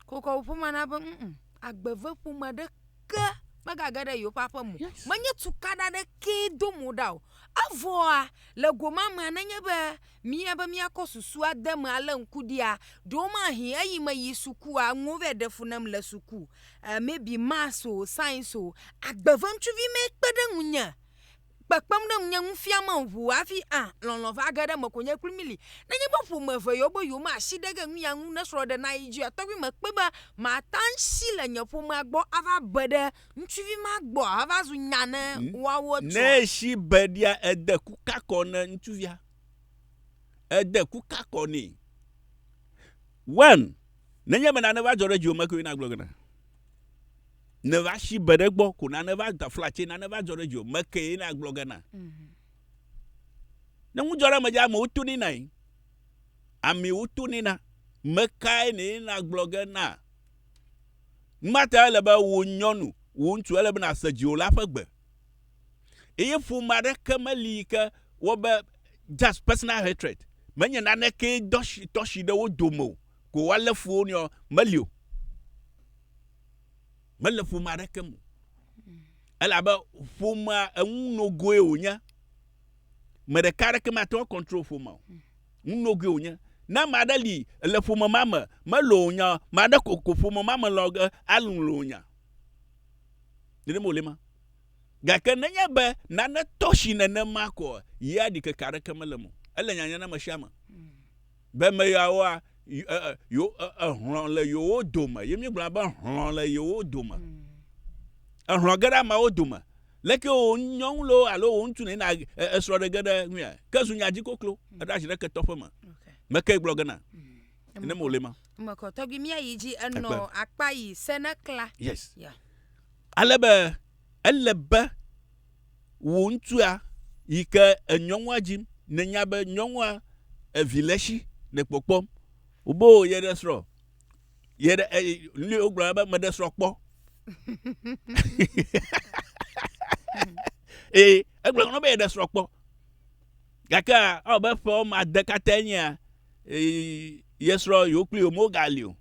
kokɔ ƒomea na be mm agbeve ƒome ɖeke megage ɖe yewo ƒe aƒe me o. Menye tukaɖa ɖekee dom woɖa o. Evɔa le go ma mea nenye be mía be míakɔ susua de eme alé ŋku ɖia, ɖewomahi eyi meyi sukua nuwo vɛ ɖe fu nam le suku e maybe maths o, science o, agbeve ŋutsuvi mee kpe ɖe ŋunye. kpekpem ɖe ŋunye ŋu fiamem ʋu hafi hã lɔlɔ̃ va ge ɖe eme ko nye kple mí li. Nenye be ƒome eve yewo be yewome asi ɖe ge nu ya ŋu ne srɔ̃ɖe nayi edzi oa, tɔgbi mekpɔe be mate ŋu asi le nye ƒomea gbɔ ava be ɖe ŋutsuvi ma gbɔ ahava zu nya ne woawo etɔ̃. Ne esi be ɖia ede ku ka kɔ ne ŋutsuvia. Ede ku ka kɔ nɛ. One, Nenye be nane va dzɔ ɖe dziwò me koe nagblɔ gɔ̃ ɖa. ne va si be ɖe gbɔ ko nane va da flatse nane va dzɔ ɖe dzi o meke ye na gblɔ gana mhm. ne ŋu dzɔ ɖe me dzi amewo to ne na yi amewo to ne na meka ye ne na gblɔ gana mata ele be wo nyɔnu wo ŋutsu ele be na se dzi o la ƒe gbe eye ƒome aɖeke meli yi ke wɔ be just personal hatred menye naneke dɔsi tɔsi ɖe wo dome o ko woalé fu wo nɔ meli o mele ƒome aɖeke me o. Elabe ƒomea enu nogoe wònye. Me ɖeka aɖeke mate ŋu akɔntrol ƒomea o. Nu nogoe wònye. Ne ame aɖe li le ƒome ma me, melɔ̃ wò nya o, ame aɖe ko ko ƒome ma me lɔ̃ ge alɔ̃ wò nya. Nenema wòle ma. Gake nenye be nane tɔ si nenema koa, yea ɖikeke aɖeke mele eme o. Ele nyanya na ame sia ame. Be me yeawoa, e, e, yo, e, ehlɔ̃ le yewo dome. Ye míegblɔna be hlɔ̃ le yewo dome. Mm. Ehlɔ̃ ge ɖe ameawo dome. Leke wò nyɔnu loo alo wò ŋutsu ne na esrɔ̃ ɖe ge ɖe ŋuia. Ke zu nya dzi koklo. Mm. Eɖo asi ɖe ketɔ ƒe me. Meke gblɔ ge na. Mm. Ne mo le ma. Mekɔ tɔgbi mía yi dzi enɔ akpa yi se ne kla. Yes. Yeah. Ale be ele be wò ŋutsua yi ke enyɔnua dzim nènya be nyɔnua evi le esi le kpɔkpɔm wobe o yeɖe srɔ̃ yeɖe eye nu yi wogblɔna be meɖe srɔ̃ kpɔ ee egblɔ nɔ be yeɖe srɔ̃ kpɔ gake ewɔ be ƒe wɔme ade katã nyea ee ye srɔ̃ yewo kpli yewo megali o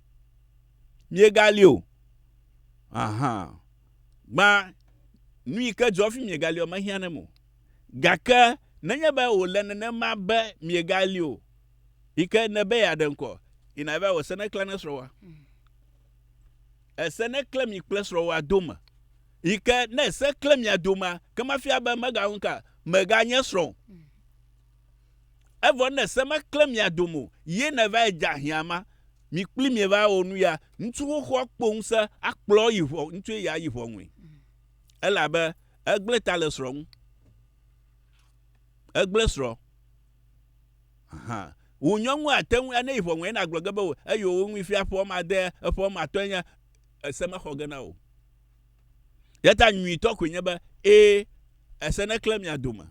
miegali o ahan. Gbã, nu yi ke dzɔ hafi miegali o mehiã nem o. Gake nenye be wòle nenema be miegali o yi ke nèbe yeaɖe ŋkɔ, yina yi va wɔ esene klẽ ne srɔ̃wòa. Esene klẽ mi kple srɔ̃wòa dome yi ke ne ese klẽ mia domea, ke mafia be megaŋu ka meganye srɔ̃ o. Evɔ ne se me klẽ mia dome o, ye nèvae dze ahiã ma, mi kpli mie va wɔ nu ya, ŋutsu xoxo akpɔ ŋusẽ akplɔ eyi ʋɔ, ŋutsue ya ayi ʋɔnui. Elabe egblẽ ta le srɔ̃ ŋu. Egblẽ srɔ̃. Hã. Wò nyɔnu ate ŋu, ne yi ʋɔnui ena gblɔ ge be, eye wò ŋui fia ƒe wɔme ade, eƒe wɔme atɔ̃e nye, ese mexɔ ge na wò. Eya ta nyuitɔ koe nye be, ee, ese neklẽ mia dome.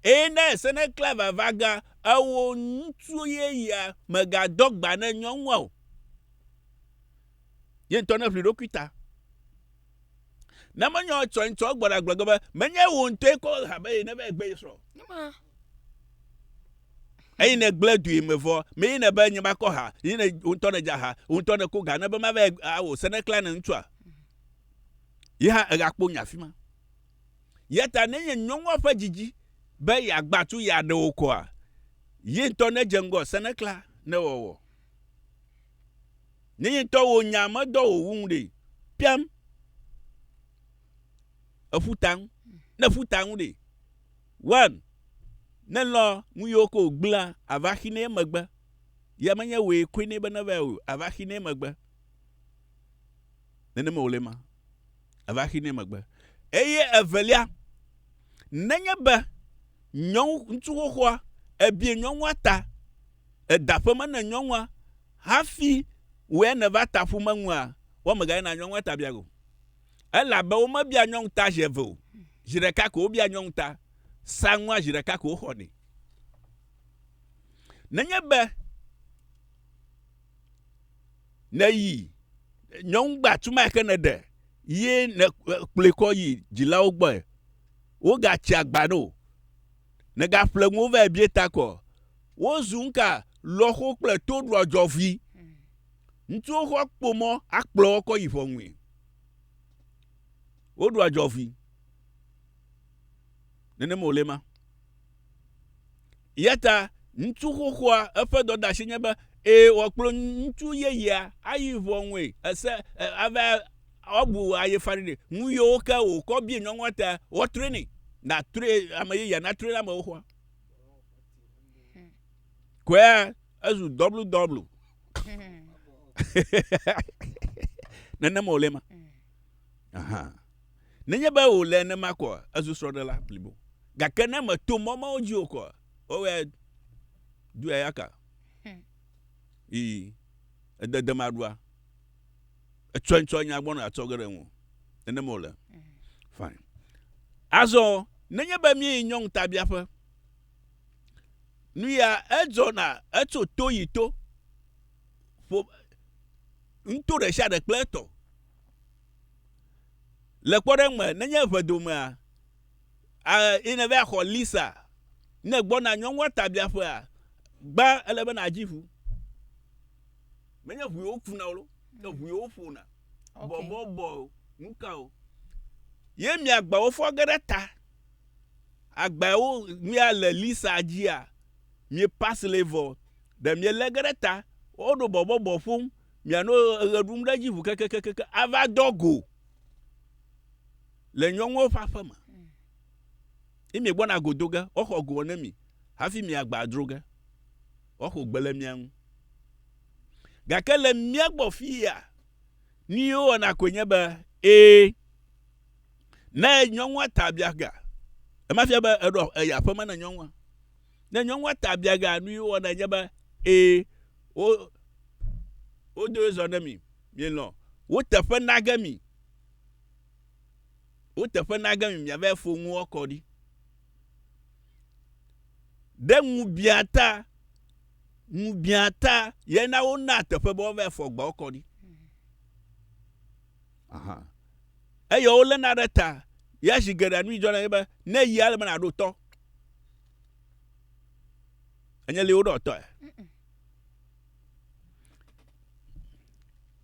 Eye ne ese neklẽ vava gã, ewò ŋutsu yeyea, mègadɔ gba ne nyɔnua o. Ye ŋutɔ neʋli ɖokui ta. Ne menyɔ etsɔ ŋutɔ egbɔ ɖagblɔ ge be, menye wò ŋutɔe kɔ ha be ye neva ye gbe ye srɔ̃. Eyi ne gblẽ dui me vɔ, me yi ne be nye va kɔ ha, yi ne wò ŋutɔ nedza ha, wò ŋutɔ neko ga ne be mava ye awò se neklẽ ne ŋutsua. Ye hã egakpo nye afi ma. Ya ta nenye nyɔnua ƒe didi be yeagbã tu ya ɖe wo kɔa, ye ŋutɔ nedze ŋgɔ senekla ne wɔwɔ. Nenye ŋutɔ wò nya medɔ wò wu ŋu ɖe, piam. Eƒu ta ŋu. Ne ƒu ta ŋu ɖe, wɔm. Ne lɔ nu yiwo ke wògblẽa, àva xinɛ emegbe. Ya menye wòe koe nɛ be neva o, àva xinɛ emegbe. Nenema wòle ema. Eva xinɛ megbe. Eye evelia, nenye be nyɔnu, ŋutsu xoxoa, ebie nyɔnua ta, eda ƒe me ne nyɔnua, hafi wòe nèva ta ƒu meŋua, woameganye na nyɔnua ta bia ge o. Elabe womebia nyɔnu ta zi eve o. Zi ɖeka ko wobia nyɔnu ta. Saŋua zi ɖeka ko woxɔnɛ. Nenye be. Ne yi nyɔnugbe atumai ke nèɖe ye nèkplɔe kɔ yi dzilawo gbɔe. Wogatsi agba nɛ o. Nègaƒle nuwo vae bia ta kɔ. Wozu nuka lɔxo kple toɖoa dzɔvui. Ŋutsuwo xɔ kpo mɔ akplɔ wo kɔ yi ʋɔnui. Woɖoa dzɔvui. Nenema wòle ma. Eya ta ŋutsu xoxoa eƒe dɔdeasi nye be ee wòakplɔ ŋutsu yeyea ayi ʋɔnue ese ava woabu ayefaɖi nɛ. Nu yiwo ke wòkɔ bia nyɔnua ta woatrɔe nɛ. Natrɔe ame yeyea natrɔe na amewo xoa. Kɔea ezu dɔblu dɔblu. Nenema wòle ma. Aha. Nenye be wòle nenema koa, ezu srɔ̃ɖela blibo. Gake ne mèto mɔ mawo dzi o koa, wowɔe duiayaka. Ii, ede dem aɖua. Etsɔe ŋutɔ nya gbɔna atsɔ ge ɖe ŋu. Nenema wòle. Fine. Azɔ, nenye be míeyi nyɔnu tabiaƒe, nuya edzɔna etso to yi to. Ƒo, nuto ɖe sia ɖe kple etɔ. Le kpɔɖeŋu me, nenye ʋedomea a yi nèva yi xɔ Lisa ne ègbɔna nyɔnua ta biaƒea, gbã ele be nàdzi ʋu. Menye ʋu yewo kuna o, ke ʋu yewo ƒona. Okay. Bɔbɔbɔ o, nu ka o. Ye mia agbawo fɔ ge ɖe ta. Agbawo mia le Lisa dzia, mie pass le vɔ. Ɖe mielé ge ɖe ta. Woɖo bɔbɔbɔ ƒom. mianɔ eɣe ɖum ɖe edzi ʋu kekekeke ava dɔ go le nyɔnuwo ƒe aƒe me. Ye miegbɔna go do ge, woaxɔ go ne mi hafi miagba dro ge. Woaxɔ gbe le mia ŋu. Gake le mía gbɔ fiya, nu yi wowɔna koe nye be, ee, ne nyɔnua ta biaga, emafia be eɖɔ eya aƒeme na nyɔnua. Ne nyɔnua ta biaga nu yi wɔna nye be ee wo wodo ye zɔ ne mi mielɔ woteƒe nage mi woteƒe nage mi miava fo ŋu wɔkɔ ɖi. Ɖe ŋu bia ta ŋu bia ta yena wona teƒe be woava fɔ gbɔ kɔ ɖi. Aha. Eye woléna ɖe ta. Ya zi geɖea nu si dzɔ na ye be ne yia ele be nàɖo tɔ. Enye li woɖɔ tɔe.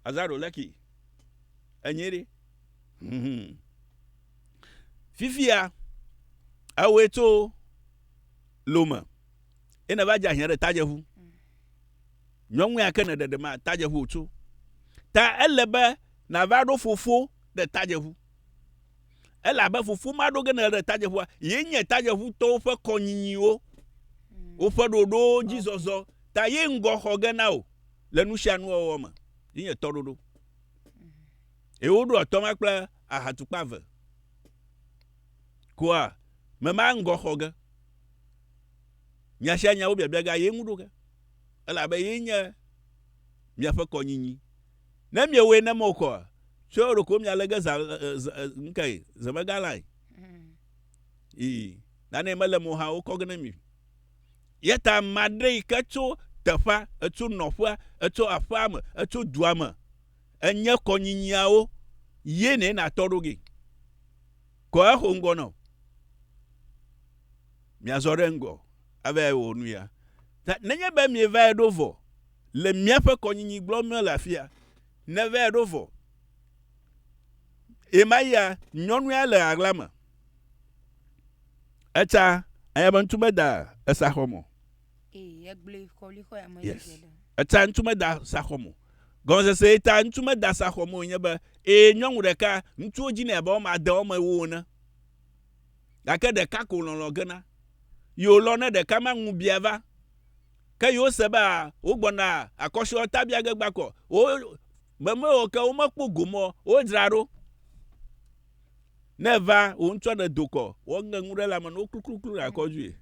Azaro leki. Enye ɖi. Mhm. Fifia, ewoe tso lome. Ye ne va dze ahiã ɖe tadze ŋu. Nyɔŋu ya ke ne ɖeɖe ma tadze ŋu wotso. Ta ele be na va ɖo fofo ɖe tadze ŋu. Ele abe fofo ma ɖo ge ne ɖe tadze ŋua, ye nye tadze ŋu tɔwo ƒe kɔnyinyiwo, woƒe ɖoɖowo dzi zɔzɔ, ta ye ŋgɔ xɔ ge na o le nusianu wɔwɔ me. Ye nye tɔ ɖoɖo. Ye woɖo atɔ ma kple ahatukpa ve. Koa, me ma ŋgɔ xɔ ge. Nya sia nya wo biabiaga ye ŋu ɖo ge, elabe ye nye miaƒe kɔnyinyi. Ne miewɔe ne me kɔa, tsɔe ɖo ko mialé ge zã, ŋkee, zemegalãe. Ii, nanee mele mo hã wokɔ ge ne mi. Yeta maɖe yi ke tso teƒea, etso nɔƒea, etso aƒea me, etso dua me, enye kɔnyinyiawo ye nɛ natɔ ɖo ge. Kɔ exo ŋgɔ na wò. miazɔ ɖe ŋgɔ ava wɔ nuya. Ta nenye be mieva ɖo vɔ le míaƒe kɔnyinyi gblɔm míele afia, neva ɖo vɔ. Ɣemaɣia nyɔnu ya le ɣaɣla me. Etsa anya be ŋutu meda esa xɔ mo. Yes. Etsa ŋutu meda sa xɔ mo. Gɔmesese yi ta ŋutu meda sa xɔ mo nye be, ee nyɔnu ɖeka, ŋutsuwo dzi nɛ abe wɔme ade wɔme ewo ene. gake ɖeka ko lɔlɔ̃ gena. Yewolɔ̃ ne ɖeka ma ŋu bia va. Ke yewose be a wogbɔna akɔshiɔ ta bia ge gbakɔ. Wo memewo ke womekpɔ gomɔ wodzra ɖo. Ne va wo ŋutsɔ ɖe dokɔ, woŋe ŋu ɖe lame no klukluklu ɖe akɔ dzuie.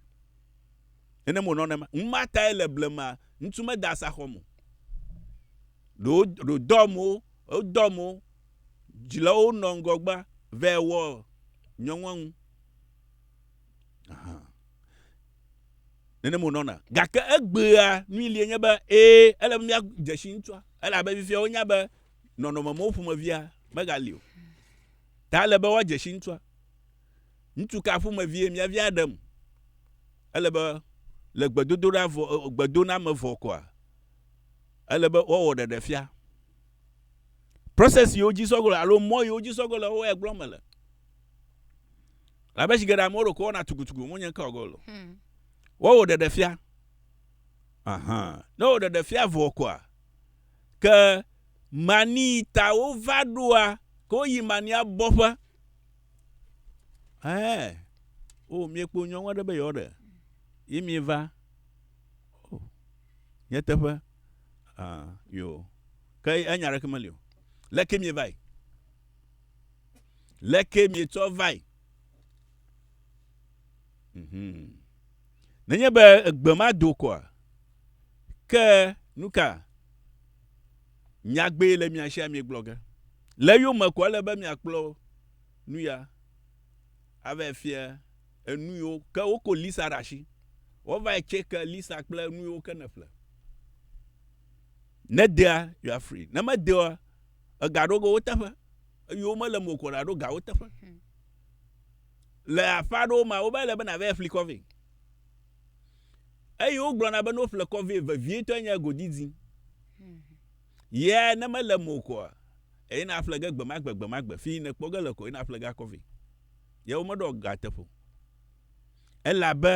Ene mo nɔnɔ ma. Ŋuma tae le blema ŋutsu meda asaxɔ mo. Ɖo ɖo dɔ mo, wodɔ mo Dzilawo nɔ ŋgɔgba vɛ wɔ nyɔŋɔŋu. Ahan. Nenem wònɔna. Gake egbea nui lie nye be, ẽ, ele be míadze si ŋutsua, elabe fifia wonya be nɔnɔme mawo ƒomevia megali o. Ta ele be woadze si ŋutsua. Ŋutsu ka ƒomevie míavia ɖem? Ele be le gbedodoɖa vɔ, gbedoɖa me vɔ koa, ele be woawɔ ɖeɖefia. Process siwo dzi sɔ ge le alo mɔ yiwo dzi sɔ ge le wo ya gblɔm mele. Labe shigeɖe amewo ɖo ko wɔna tugutugu mo nye ŋkɔ go lo. Hmm. Wo wo ɖeɖe fia. Ahan. Ne wo ɖeɖe fia vɔ koa ke mani ta wo va ɖoa ko yi mani abɔƒe. Eh. O mi kpo nyɔnwa ɖe be yɔ ɖe. Yi mi va. Oh. Nye teƒe. Ah, yo. Ke enya ɖeke meli o. Leke mievai? Leke mietsɔ vai? Mm -hmm. Nenye be egbe ma do koa, ke nuka nyagbee le mia sia mie gblɔ ge? Le yome ko ele be miakplɔ nuya. Ave fie enuyiwo ke woko Lisa ɖasi wovae tseke Lisa kple enuyiwo ke neƒle ne dea you are free ne me deoa ega ɖo go woteƒe eyiwo mele mo ko ɖaɖo ga woteƒe le aƒa ɖo ma wovae le be na vae fli kɔvi eyi wo gblɔ na be no ƒle kɔvi vevie tɔ enye godidzi Yea, ne mele eme o koa, eyi nàƒle ge gbemagbe gbemagbe, fi yi nèkpɔ ge le koe nàƒle ge akɔ vɛ. Yea, womeɖɔ ga teƒe o. Elabe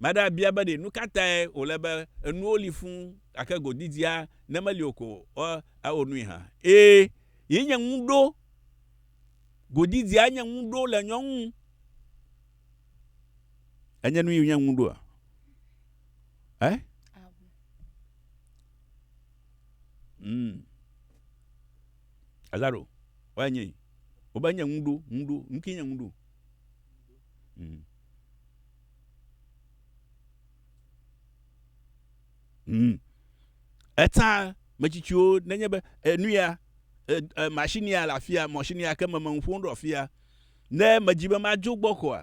ame aɖe abia be ɖe nu ka tae wòle be enuwo li fũ gake go didia ne meli o ko ɔ, awɔ nui hã. Ẽ, yi nye ŋu ɖo. Go didia nye ŋu ɖo le nyɔ ŋu. Enye nu yi nye ŋu ɖoa? Ẽ? Mm. Eza ɖo, woya nye, wobe nye ŋuɖo, ŋuɖo, ŋuki nye ŋuɖo. Mm. Mm. Eta metsitsiwo nenye be enu ya, e, e, machine ya le afia, machine ya ke me me ŋuƒom ɖo afia, ne medzi be madzo gbɔ koa,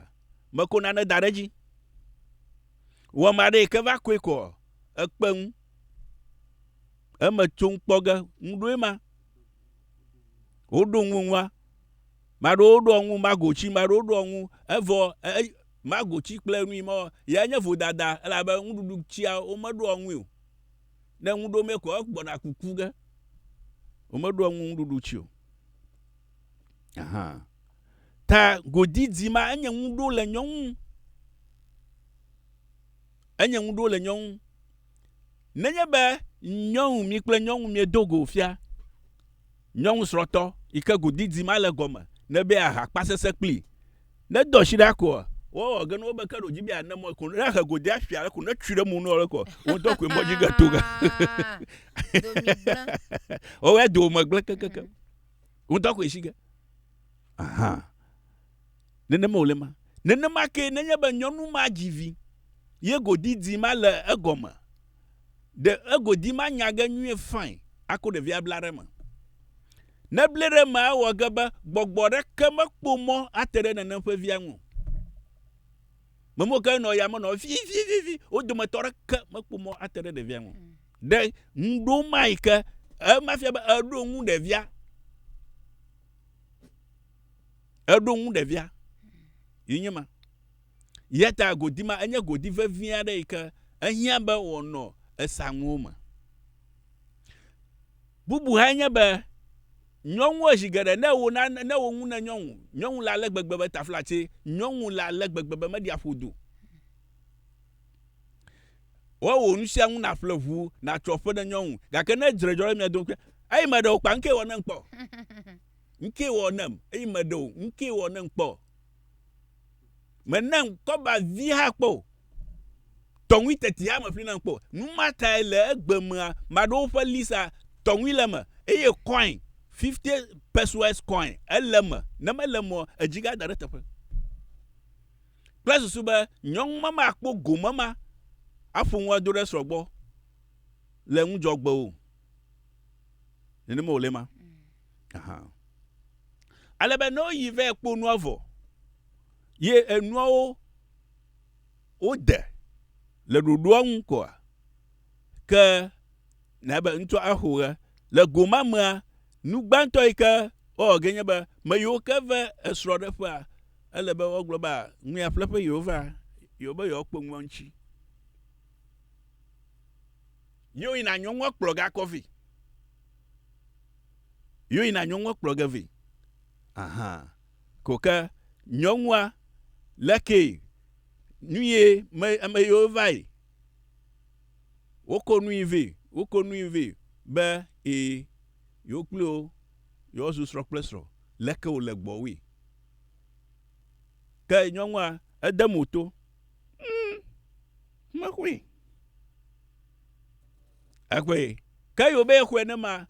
meko nane da ɖe edzi. Wɔ ma ɖe yi ke va koe koa, ekpe ŋu. Eme tsom kpɔ ge, ŋu ɖoe ma. Woɖo ŋu ŋua. Maɖewo ɖo ŋu magotsi, maɖewo ɖo ŋu evɔ e, e, magotsi kple nui mɔ ya nye vodada elabe nuɖuɖu tsia womeɖo ŋui o. Ne ŋu ɖo me ko egbɔna kuku ge. Womeɖo ŋu nuɖuɖu tsi o. Aha. Ta godidi ma enye ŋu ɖo le nyɔnu. Enye ŋu ɖo le nyɔnu. Nenye be nyɔnu mi kple nyɔnu miedo go fia, nyɔnu srɔ̃tɔ yi ke go didi ma le gɔme ne be aha kpa sese kpli ne do ashi ɖa koa, wo wɔ ge ne wo be ke ɖo dzi be ya ne mɔe ko ne he go de afia le ko ne tsui ɖe mo ne wole koa, wo ŋutɔ koe mɔdzi ge to ga. Wo wɔ do me gble kekeke. Wo ŋutɔ koe shi ge. Aha. Nenema wòle ma. Nenema ke nenye be nyɔnu ma dzi vi ye godidi ma le egɔme ɖe egodi ma nya ge nyuie fain ako ɖevia abla ɖe eme. Ne bli ɖe eme awɔ ge be gbɔgbɔ ɖeke mekpo mɔ ate ɖe nenem ƒe via ŋu. Memewo ke nɔ yame nɔ vi vi vi vi wo dometɔ ɖeke mekpo mɔ ate ɖe ɖevia ŋu. Ɖe ŋɖo ma yi ke ema fia be eɖo ŋu ɖevia Eɖo ŋu ɖevia. Yi nye ma. Yata godi ma enye godi vevi aɖe yi ke ehiã be wòanɔ esanuwo me. Bubu hã nye be nyɔnu ezi geɖe ne wo na ne wo ŋu ne nyɔnu, nyɔnu la le gbegbe be taflatse, nyɔnu la le gbegbe be meɖi aƒodo. Woawɔ wò nusiaŋu nàƒle ʋu nàtsɔ ƒe ɖe nyɔnu, gake ne dzre dzɔ ɖe mia dome Eyi meɖe wò kpa ŋkee wɔ nem kpɔ. Ŋkee wɔ nem, eyi meɖe wò ŋkee wɔ nem kpɔ. Menem kɔba vi hã kpɔ o. Tɔŋui teti hã meƒli nam kpɔ o. Nu ma tae le egbe mea, maɖo woƒe Lisa tɔŋui le eme, eye kɔin, 50 pesewas kɔin, ele eme, ne mele emea, edzi gada ɖe teƒe. kple susu be nyɔnu ma makpɔ gome ma aƒo nu ado ɖe srɔ̃ gbɔ le ŋudzɔgbe o. Nenema wòle ma. Aha. Ale be ne woyi vɛ kpo nua vɔ, ye enuawo wode le ɖoɖoa ŋu koa, ke na be ŋutsua axo ɣe. Le go ma mea, nu gbãtɔ yi ke woawɔ ge nye be, me yiwo ke ve esrɔ̃ɖeƒea, ele be woagblɔ be, Ŋu ya ƒle ƒe yewova, yewo be yewoakpɔ ŋu eŋuti. Ye woyina nyɔnua kplɔ ge akɔ vɛ. Ye woyina nyɔnua kplɔ ge vɛ. Aha. Ko ke nyɔnua, lekee, nu ye me, ame yewo vae. Woko nui vɛ, woko nui vɛ be e yewo kple wo yewoa zu srɔ̃ kple srɔ̃ leke wo le gbɔwui. Ke nyɔnua ede mo to, ŋm me xɔe. Exɔe. Ke yewo be ye xɔe ne ma,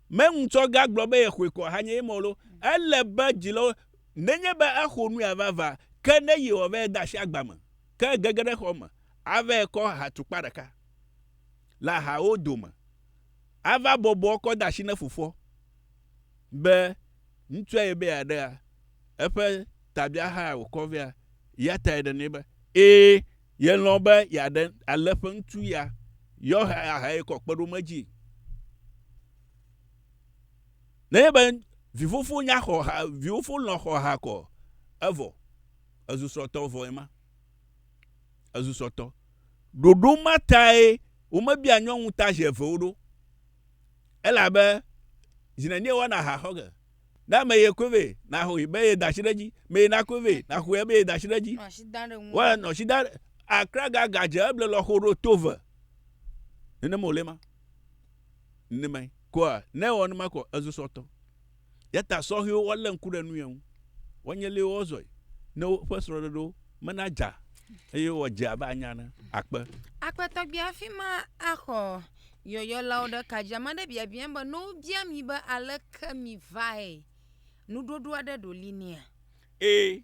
me ŋutsɔ ga gblɔ be ye xɔe kɔ hanye ye mɔlo, ele be dzilawo nenye be exɔ nui vava, ke ne ye wɔ be ye da asi agba me. Ke gege ɖe xɔ me ava kɔ ahatukpa ɖeka le ahawo dome ava bɔbɔ kɔ de asi ne fofoa be ŋutsua ye be yeaɖea eƒe tabiahaa wòkɔ vea, ya tae ɖe nɛ be, ẽ, yelɔ̃ be yeaɖe ale ƒe ŋutsu ya yɔ he ahae kɔ kpe ɖe wo me dzi. Nenye be vifofo nya xɔ ha, vifofo lɔ̃ xɔ ha kɔ, evɔ. Èzu srɔ̃tɔ vɔ ema. Èzu srɔ̃tɔ. Ɖoɖo ma tae womebia nyɔnu ta zi evewo ɖo. Elabe zi nenie woana aha xɔ ge? Ne ame ye koe vɛ, naxɔe be yeda asi ɖe edzi. Me ye nakoe vɛ, naxɔe be yeda asi ɖe edzi. Woa nɔ asi da ɖe. Akra gaga dze eble lɔxo ɖo to ve. Nenema wòle ema. Nenemae. Koa ne ewɔ nenema koa, ezu srɔ̃tɔ. Yata sɔhɛwo wa le ŋku ɖe nu ye ŋu. Wa nye li wo zɔe ne wo ƒe srɔɖeɖo me na dza eye wa dze abe anya ne akpe. Akpe tɔgbi afima axɔ yɔyɔ la wo ɖe ka dzi. Ame aɖe biabia be ne wo bia mi be aleke mi vae, nuɖoɖo aɖe ɖo li nɛa? Ee.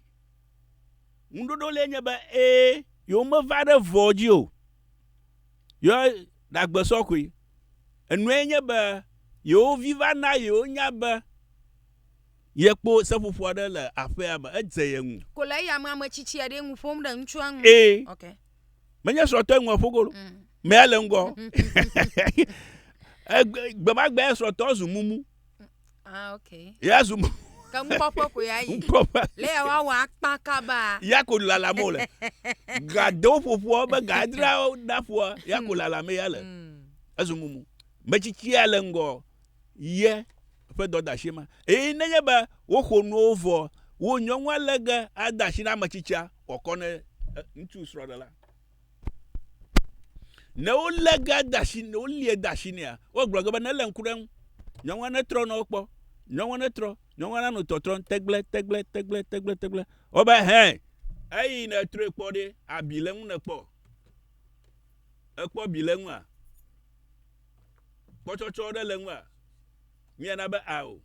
Nuɖoɖo li enye be ee, yewo me va ɖe vɔ dzi o. Yɔ ɖagbe sɔ koe. Enuae nye be yewo vi va na yewo nya be yekpɔ seƒoƒo aɖe le aƒea me. Edze ye ŋu. Ko le eyame ame tsitsi aɖee ŋu ƒom ɖe ŋutsua ŋu. Ee. Ok. Menye srɔ̃tɔe ŋu eƒo golo. Mm. Mea le ŋgɔ. Egbe- Gbemagbe srɔ̃tɔ zu mumu. Ah, okay. Ya zu mo. Ke nukpɔƒe ko ya yi. Nukpɔƒe. Le ya woawɔ akpa kaba. Ya ko lalam wole. Gadewo ƒoƒoa be gadra ɖaƒoa ya ko lalam ya le. Mm. Ezu mumu. Metsitsia le ŋgɔ ye ƒe dɔdashi ma. Eye nenye be woxɔ nuwo vɔ, wo nyɔnua lege ade asi na ametsitsia wòakɔ ne eh, ŋutsu srɔ̃ɖela. Ne wolé ga de asi ne wolie de asi nɛa, wogblɔ ge be nelé ŋku ɖe eŋu. Nyɔnua netrɔ nɔ wo kpɔ. Nyɔnua netrɔ. Nyɔnua nanɔ tɔtrɔm tegble tegble tegble tegble tegble. Wobe hɛ. Eyi netrɔe kpɔ ɖe abi le ŋu nekpɔ. Ekpɔ bi le ŋua? Kpɔtsɔtsɔ ɖe le ŋua? Miana be ao.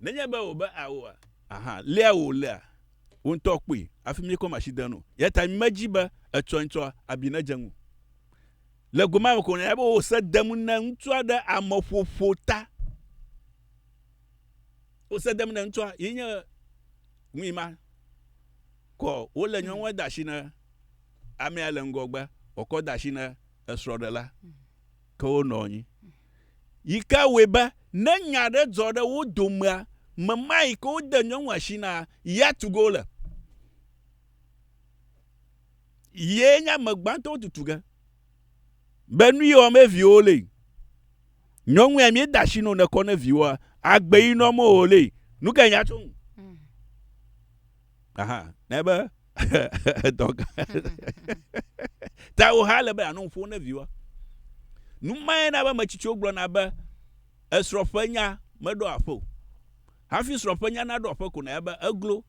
Nenye be wò be ao a? Aha, lea wò lea, wò ŋutɔ kpɔe hafi mi kɔ machine de enu. Eya ta mi me dzi be etsɔe ŋtsɔ abi ne dze ŋu. Le go ma me ko nanya be wò se dem ne ŋutsua ɖe ame ƒoƒo ta. Wò se dem ne ŋutsua yi nye ŋui ma. Kɔ wo le nyɔnua da shi ne amea le ŋgɔgbe, wò kɔ da shi ne esrɔ ɖe la. ke wonɔ anyi, yi ke wɔe be ne nya aɖe dzɔ ɖe wo domea, mema yi ke wode nyɔnu asi na ya tu ge wole. Yee nye ame gbãtɔwo tutu ge. Be nu yi wɔm be viwo le. Nyɔnu ya míeda asi nɔ nekɔ ne viwoa, agbe yi nɔ me wòle. Nu ke nya tso ŋu. aha ne be dɔ gã ta wo ha le be anɔ ƒo ne viwa numae na be metsitsiwo gblɔna be esrɔƒe nya meɖo aƒe o hafi srɔƒe nya naɖo aƒe ko na be eglo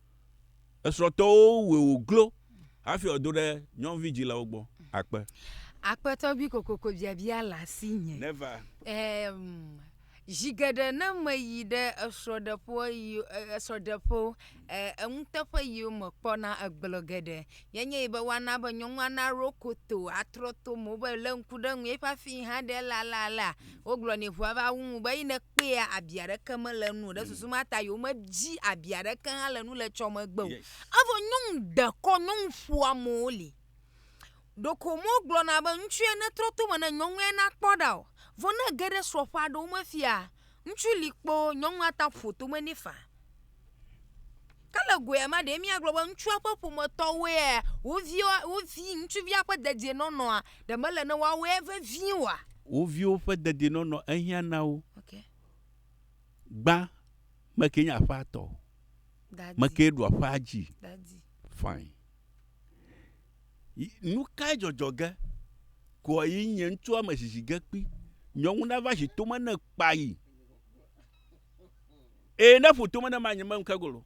esrɔtɔwo wɔ wo glo hafi ɔdo ɖe nyɔnuvi dzilawo gbɔ akpe akpetɔ bi kokoko biabia la si nye never um, Zi geɖe ne meyi ɖe esrɔ̃ɖeƒewo yi e esrɔ̃ɖeƒewo e enuteƒe yiwo mekpɔna egblɔ geɖe ye nye be woana be nyɔnua naɖo koto atrɔ to me be lé ŋku ɖe eŋu ye ƒe afi yi hã ɖe ele alea alea wogblɔ nɛ ŋu ava wu ŋu be eyi nekpɔa abi aɖeke mele enu o ɖe susu ma ta yewo medzi abi aɖeke hã le enu le etsɔ megbe o. Evɔ nyɔnu ɖekɔ nyɔnu ƒoamewo li. Ɖeko womegblɔna be ŋutsue netrɔ to me ne nyɔnue nakpɔ ɖa o. Vɔ ne ege ɖe srɔ̃ ƒe aɖewo me fia, ŋutsu li kpoo, nyɔnua ate ŋu ƒo tome nɛ faa. Ke le go ya mea, ɖe míagblɔ be ŋutsua ƒe ƒometɔwoea, wo viwo, wo vi ŋutsuvia ƒe dedienɔnɔa, ɖe mele ne woawɔe vevie oa? Wo viwo ƒe dedienɔnɔ ehiã na wo. Okay. Gbã, mekee nye aƒea tɔ? Daddy. Mekee ɖua aƒea dzi? Daddy. Fine. Nu kae dzɔdzɔ ge kɔa yi nye ŋutsua me zizi ge kpi? Nyɔnu nava zi tome ne kpa yi. Ee, ne ƒo tome ne ma nye me ŋke golo.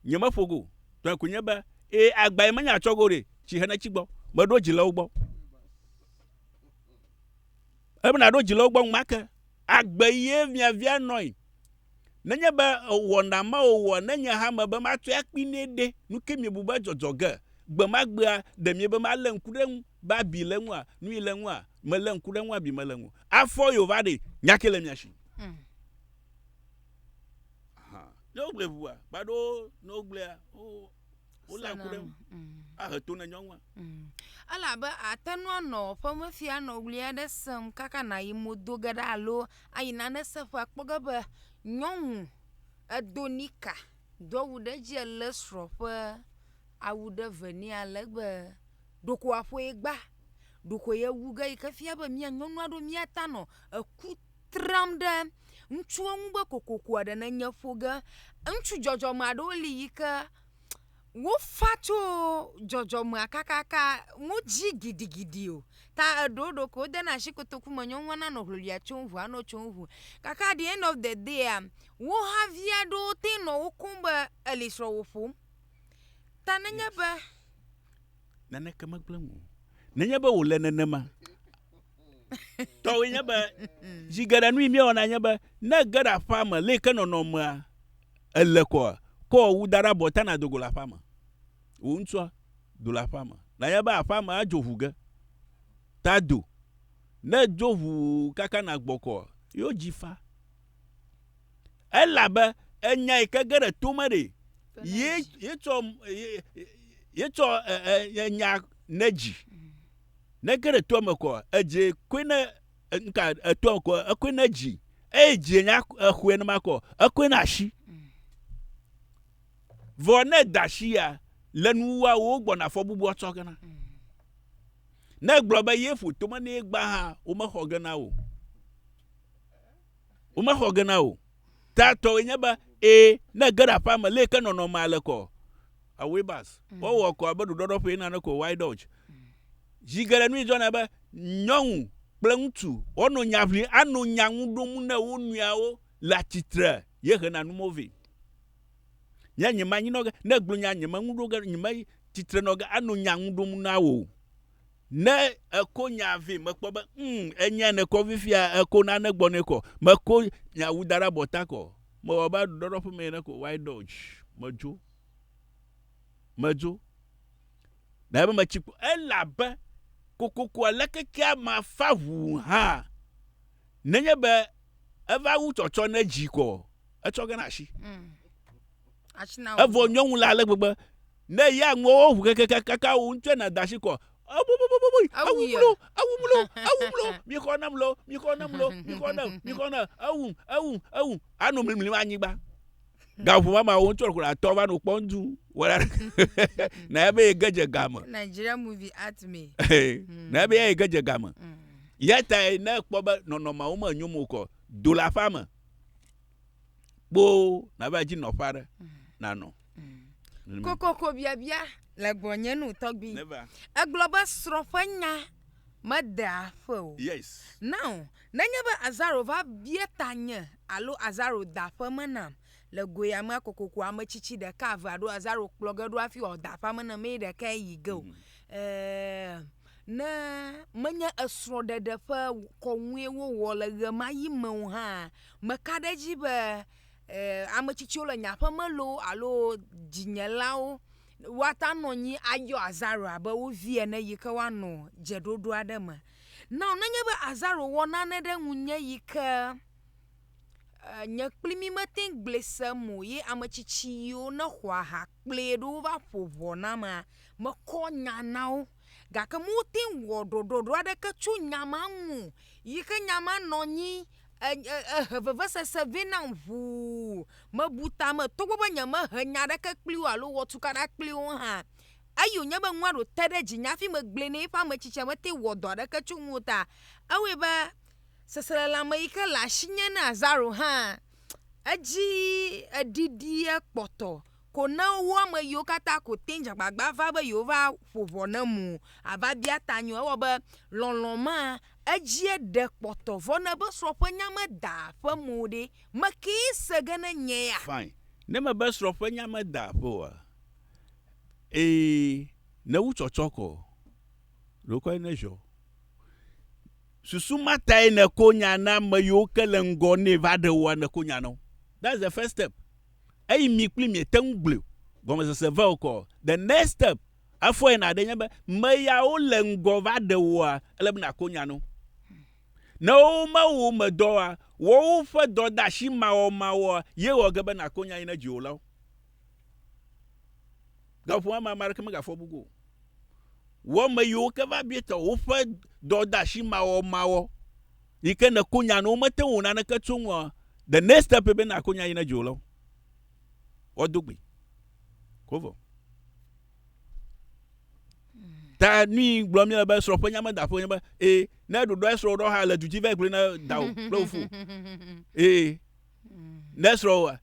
Nye me ƒo go. Tɔe ko nye be, ee, agba yi me nya tsɔ go ɖe, tsi hene tsi gbɔ. Me ɖo dzi le wo gbɔ. Ebe na ɖo dzi le wo gbɔ ŋmake. Agbe yi ye via via nɔi. Nenye be wɔna ma wòwɔ ne nye hã mebe matɔe akpi nɛ ɖe, nu kae miebu be adzɔ ge? Gbe ma gbea, ɖe miebe malé ŋku ɖe eŋu be abi le eŋua? Nui le eŋua? Melé ŋku ɖe eŋu abi mele eŋu o. Afɔ ye wòva ɖe. Nya kae le mia si? Aha. Ne wogblɔe ʋua, kpa ɖo ne wogblɔea, oh. Wolé ŋku ɖe eŋu ahe to na nyɔnua. Elabe àte ŋu anɔ ƒemefi anɔ ʋli aɖe sem kaka nàyi mo do ge ɖa alo ayi nane sem ƒe akpɔ ge be nyɔnu edo nika do awu ɖe edzi elé srɔ̃ ƒe awu ɖe ve nɛ ale be ɖeko aƒoe gba ɖeko yewu ge yi ke fia be mía nyɔnu aɖewo míata nɔ eku tram ɖe ŋutsuwo ŋu be kokoko eɖe nenye ƒo ge. Ŋutsu dzɔdzɔme aɖewo li yi ke wofa tso dzɔdzɔmea kakaka wodzi gidigidi o ta eɖewo ɖeko wodena asi kotoku me nyɔnua nanɔ ŋiŋlia tsom ŋu anɔ tsom ŋu gake at di ɛnd ɔf de dia wo havi aɖewo te nɔ wo kum be eli srɔ̃wo ƒom ta nenye be. Naneke megblẽ nu o. Nenye be wòle nenema. Tɔwoe nye be, zi geɖe nu yi míewɔna nye be, ne ège ɖe aƒea me le yi ke nɔnɔmea èle koa, kɔ wò wu da ɖe abɔ ta nàdo go le aƒea me. Wò ŋutsua, do le aƒea me. Nànya be aƒea me adzo ʋu ge. Ta do. Ne edzo ʋu kaka nàgbɔ koa, yewo dzi fa. Elabe enya yi ke ge ɖe to me ɖee, ye, ye tsɔ, ye, ye tsɔ e, e, nya ne dzi. Ne ge ɖe toa me kɔa, edzi koe ne nka etoa kɔ ekoe ne dzi eye dzi nya exɔe ne makɔ ekoe na asi. Vɔ ne da asi ya le nuwa wo gbɔna fɔ bubu atsɔ gena. Ne gblɔ be ye ƒo tome ne gba hã wo mexɔ gena o. Wo mexɔ gena o. tatɔe nye be ee ne ege ɖe aƒea me leke nɔnɔmea le kɔ away bus mm. wowɔ kɔ abe ɖuɖɔɖɔ ƒe nane ko wide dodge zi geɖe nui dzɔna be nyɔnu kple ŋutsu wonɔ nya ʋli anɔ nya ŋu ɖom ne wo nɔewo le atsitre ye hena numo vɛ nye nye manyi nɔ ge ne gblɔ nya nye meŋu ɖo ge nye me tsitre nɔ ge anɔ nya ŋu ɖom na wo Ne eko nya vɛ, mekpɔ be, mm, enya ne kɔ fifia, eko nane gbɔ ne kɔ. Meko nya wu da ɖe abɔta kɔ. Mewɔ be ɖɔɖɔ ƒe me ne ko. Why dodge? Medzo. Medzo. Na ebe metsi kpo. Ela be, kokoko alekeke ama fa ʋu hã. Nenye be, eva wu tsɔtsɔ ne dzi kɔ, etsɔ gana ashi. Mm. Evɔ nyɔnu la ale gbegbe. Ne ya ŋuwo ʋu kekeke kaka wo ŋutsu na da shi kɔ. Ebububububui, ewu mlo, ewu mlo, ewu mlo, mi xɔ ne mlo, mi xɔ ne mlo, mi xɔ ne, mi xɔ ne, ewu, ewu, ewu, ano mlimlim anyigba. Gaʋu mama wo ŋutsu ɖe ko la tɔ va no kpɔ ŋdu. Wala na ya be ye ge dze game. Nigeria movie at me. Na ya be ye ge dze game. Mm. Yeta ne kpɔ be nɔnɔmawo me nyomo kɔ do la fa me. kpoo nàva edzi nɔƒe aɖe nanɔ. Mm. Kokoko biabia le gbɔnye nu tɔgbi. Egblɔ be srɔ̃ ƒe nya mede aƒe o. Yes. Now, nenye be Azaro va bia ta nye alo Azaro da ƒe me nam le goe amea kokoko ame tsitsi ɖeka eve alo Azaro kplɔ ge ɖo hafi wòada ƒe me na mee ɖeka yi ge o. Mm. Eh, ne menye esrɔ̃ɖeɖe ƒe kɔnue wowɔ le ɣemaɣi me o hã Meka ɖe edzi be ame tsitsiwo le nye aƒe me loo alo dzinyelawo woate ŋu anɔ anyi ayɔ azaro abe wo vi ene yi ke woanɔ dzeɖoɖo aɖe me. Nao nenye be azaro wɔ nane ɖe ŋunye yi ke e nye kple mi mete ŋu gblɔe se me o ye ame tsitsi yiwo nexɔ aha kplɔe ɖo wova ƒo ŋɔ namea, mekɔ nya na wo. gake womete ŋu wɔ ɖoɖoɖo aɖeke tso nya ma ŋu o yi ke nya ma nɔ anyi e e ehe vevesese vɛ nam ʋuu. Mebu ta me togbɔ be nyemehe nya aɖeke kpli wo alo wɔ tukaɖa kpli wo hã. Eyi wonye be nua ɖe wòte ɖe dzinye hafi megblɔe na eƒe ame tsitsia mete ŋu wɔ dɔ aɖeke tso eŋu o ta ewɔe be seselelãme yi ke le asinye na Lazaro hã edzi eɖiɖi ekpɔtɔ. ko ne wo ame yiwo katã ko te dze agbagba va be yewoava ƒo ʋɔ ne eme o, ava bia ta nye o. Ewɔ be lɔlɔ̃ ma edzie ɖe kpɔtɔ vɔ ne be srɔ̃ ƒe nya meda ƒe me o ɖe, mekee se ge ne nye ya? Fine. Ne eme be srɔ̃ ƒe nya meda ƒe oa, ee, ne wu tsɔtsɔk o, ɖe wokɔe ne ʒɔ. Susu ma tae nèko nya na ame yiwo ke le ŋgɔ nɛ va ɖe woa, nèko nya na wo. That's the first step. eyi mi kpli miete ŋu gblɔe o. Gɔmesese vɛ wokɔ. The next step, efɔe nàɖee nye be, meyawo le ŋgɔ va ɖe wòa? Ele be nàko nya no. Ne wome wò me dɔ oa, wɔ woƒe dɔdeasi mawɔmawɔ ye wɔ ge be nàko nya yi ne dziwòlawo. Gaƒoƒo ma me ame aɖeke megafɔ bu go o. Wɔ ame yiwo ke va bia tɔ woƒe dɔdeasi mawɔmawɔ. yi ke nèko nya ne womete ŋu wò naneke tso eŋua, the next step ye be nàko nya yi ne dzo le wo. Woado gbe. Ko vɔ. Ta nui gblɔ mi le be srɔ̃ ƒe nya me da ƒe nye be e ne ɖoɖɔ esrɔ̃ ɖɔ ha le du dzi vɛ gblɔ na da o kple wofo. E Ne srɔ̃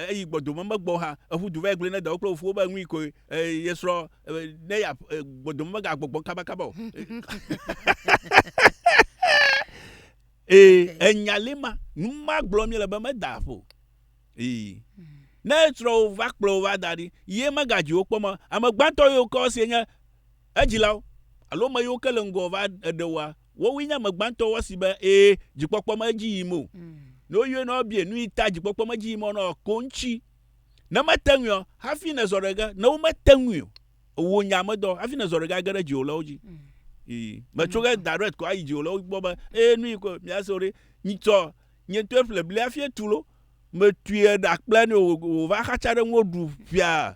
eyi gbɔdome megbɔ hã, eƒu du va gblɔ ne dawo kple fofowo be nui koe ye srɔ̃ ne ya gbɔdome megagbɔgbɔ kabakaba o. Ee, enya li ma, nu ma gblɔ mi le be meda ƒo. Ee. Ne srɔ̃wo va kplɔ va da ɖi, ye megadzi wo kpɔ me. Ame gbãtɔ yiwo kɔ si nye Edzilawo, alo ame yiwo ke le ŋgɔ va eɖe woa, wowoe nye ame gbãtɔ wa si be ee dzikpɔkpɔ me edzi yim o. Ne woyɔe ne woabie nu yi ta dzikpɔkpɔ me edzi yim o na wòa, ko ŋtsi. Ne mete ŋui ɔ, hafi nèzɔ ɖe ge, ne womete ŋui o, wò nya me dɔ, hafi nèzɔ ɖe ge age ɖe dziwòlawo dzi. Ii, mètso ge direct kɔ ayi dziwòlawo gbɔ be ee nu yi ko mìase o ɖe, nyitsɔ nye ŋutɔe ƒle bli hafi etu lo. Mètui eɖa kple nɛ o, wòva xatsa ɖe ŋuwò ɖu ʋia.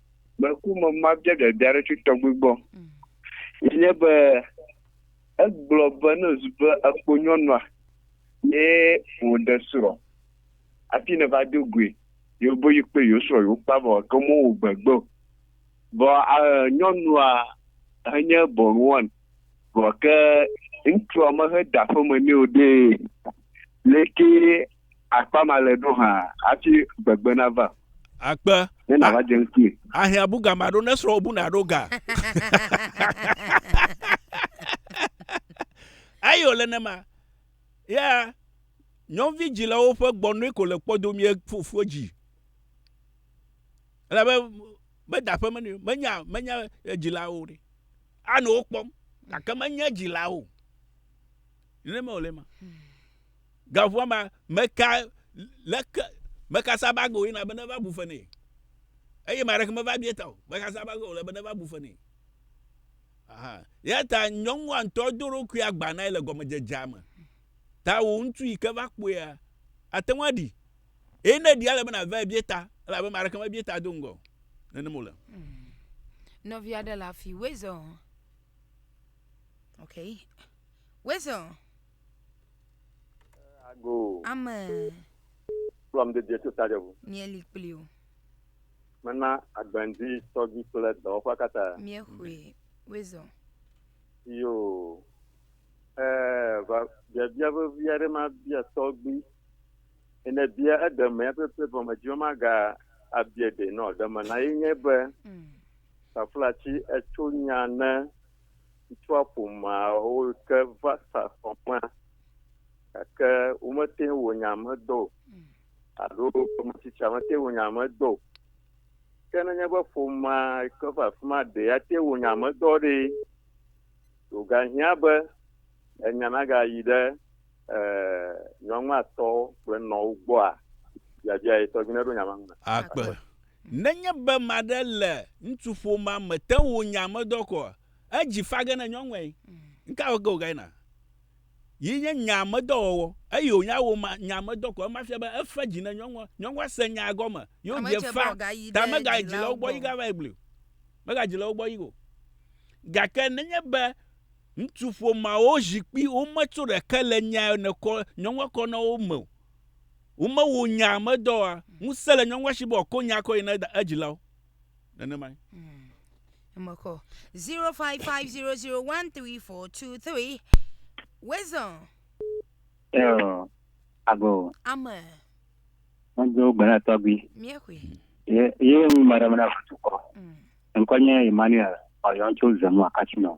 Meku me mabia dada aɖeke tɔgbi gbɔ. Ye nye be egblɔ be ne zu be ekpo nyɔnua ye wòɖe srɔ̃ hafi ne va do goe ye be yi kple yewo srɔ̃ yewo kpa vɔ ke womewɔ gbegbe o. Vɔ nyɔnua enye bɔnuwɔn vɔ ke ŋutsua mehe da aƒeme nɛ o ɖee. Leke Akpa male ɖo hã hafi gbegbe nava. Akpe. Ne nava dze ŋkui. Ahiã bu ga maɖo ne srɔ̃wò bu naɖo ga. Eye wòle nema. Ya nyɔnuvi dzilawo ƒe gbɔnɔe ko le kpɔdomie fofoa dzi. Elabe meda aƒe me nɛ o. Menya, menya dzilawo ɖe. Anɔ wo kpɔm gake menye dzilawo. Nenema wòle ema. Gaʋua ma, meka leke meka sabago yina be neva bu fe nɛ. Eye maɖeke meva bie ta o. Meka sabago wòle be neva bu fe nɛ. Aha. Ya ta nyɔnua ŋutɔ do ɖokui agba nae le gɔmedzedzea me. Ta wò ŋutsu yi ke va kpɔea, ate ŋu aɖi. Eye ne ɖia, ele be nàvae bie ta, elabe ame aɖeke mebie ta do ŋgɔ o. Nenema wòle. Hmm. Nɔvi aɖe le afi, wezɔ. Okay. Wezɔ. Ago. Ame. Kplɔm de Jesu ta ɖeʋu. Mieli kpli o. Mena agbɛndi tɔgbi kple dɔwɔƒa katã. Miexoe. Wezɔ. Yo. Ɛɛ, va biabia vevi aɖe mabia tɔgbi. Ene bia eɖeme ya pepe vɔ medzi be maga abia ɖe nɔ ɖeme na ye nye be. Mm. Taflatsi etso nya ne ŋutsua ƒomeawo ke va sa xɔmea, gake womete ŋu wɔ nya me dɔ o, alo ame tsitsia mete ŋu wɔ nya me dɔ o. Ke nenye be ƒomea ke va afi ma ɖe ate ŋu wɔ nya me dɔ ɖe, wogahiã be enya nagayi ɖe eh, nyɔnua tɔ kple nɔwo gbɔa, biabia ye tɔgbi neɖo nya ma ŋu na. Akpe. Nenye be ame aɖe le ŋutsuƒomea me te ŋu nya ame dɔ kɔ, edzi fa ge ne nyɔnuae. Nuka wɔ ge wògayi na? Yi nye nya ame dɔ wɔwɔ. Eyi wònya wò ma, nya ame dɔ kɔ. Ema fia be efe dzi ne nyɔnua. Nyɔnua se nyaa gɔme ye Ame wodze dze be fa wògayi ta ɖe megayi dzilawo dzilawo gbɔ yi gbɔ. gava yi gli o. Megadzi le wo gbɔ yi o. Gake nenye be Ŋutsu ƒomeawo zi kpi wometso ɖeke le nya yɔ nekɔ nyɔnua kɔ na wo me o. Womewo nya medɔ wa. Ŋusẽ le nyɔnua si be wòakɔ nya kɔ yi na eda- edzilawo. Nenemae. Eme kɔ. 0550013423. Wisdom. Eo, ago. Ame. Ŋudzo gbe na tɔgbui. Míexɔe. Ye, ye ŋu maɖe mena ŋutsu kɔ. Mm. Ŋkɔ nye Emmanuel Ɔyɔn tso Zemua Casino.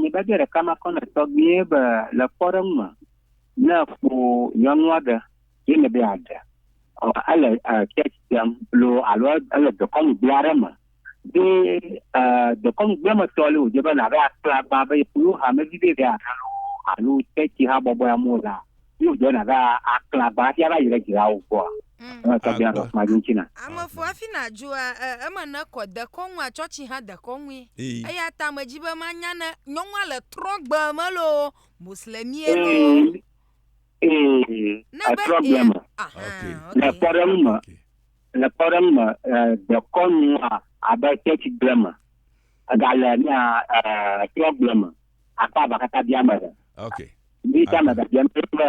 Nyebabia ɖeka makɔ nɔ tɔgbuie be le kpɔɖeŋu me ne ƒo nyɔnu aɖe ye ne be yeaɖe ele church tem lo alo ele dekɔnugbea aɖe me be dekɔnugbea me tɔ le wòdze be nàɖo akplagba be yeƒo hamevi ɖe ɖe aɖe lo alo church habɔbɔe amewo la Yo do na da akla ba sia va yi ɖe dzila wo gbɔa. Mm. Eme tɔ bia dɔ kuma dzi ŋuti na. Ame fo afi na dzua e, eme ne kɔ dekɔnu a tsɔtsi hã dekɔnui. Ee. Eya ta me dzi be manya ne nyɔnua le trɔgbe me loo, muslimie loo. Ee. Ee. Ne be Etrɔ gbe me. Aha, Okay. Le okay. kpɔɖeŋu me, Okay. le kpɔɖeŋu me, ɛ, dekɔnu a abe tsɛtsi gble me. Egale na ɛ trɔ gble me. akpa ba kaka bia me ɖe. Okay. Ndi ta me da bia me kple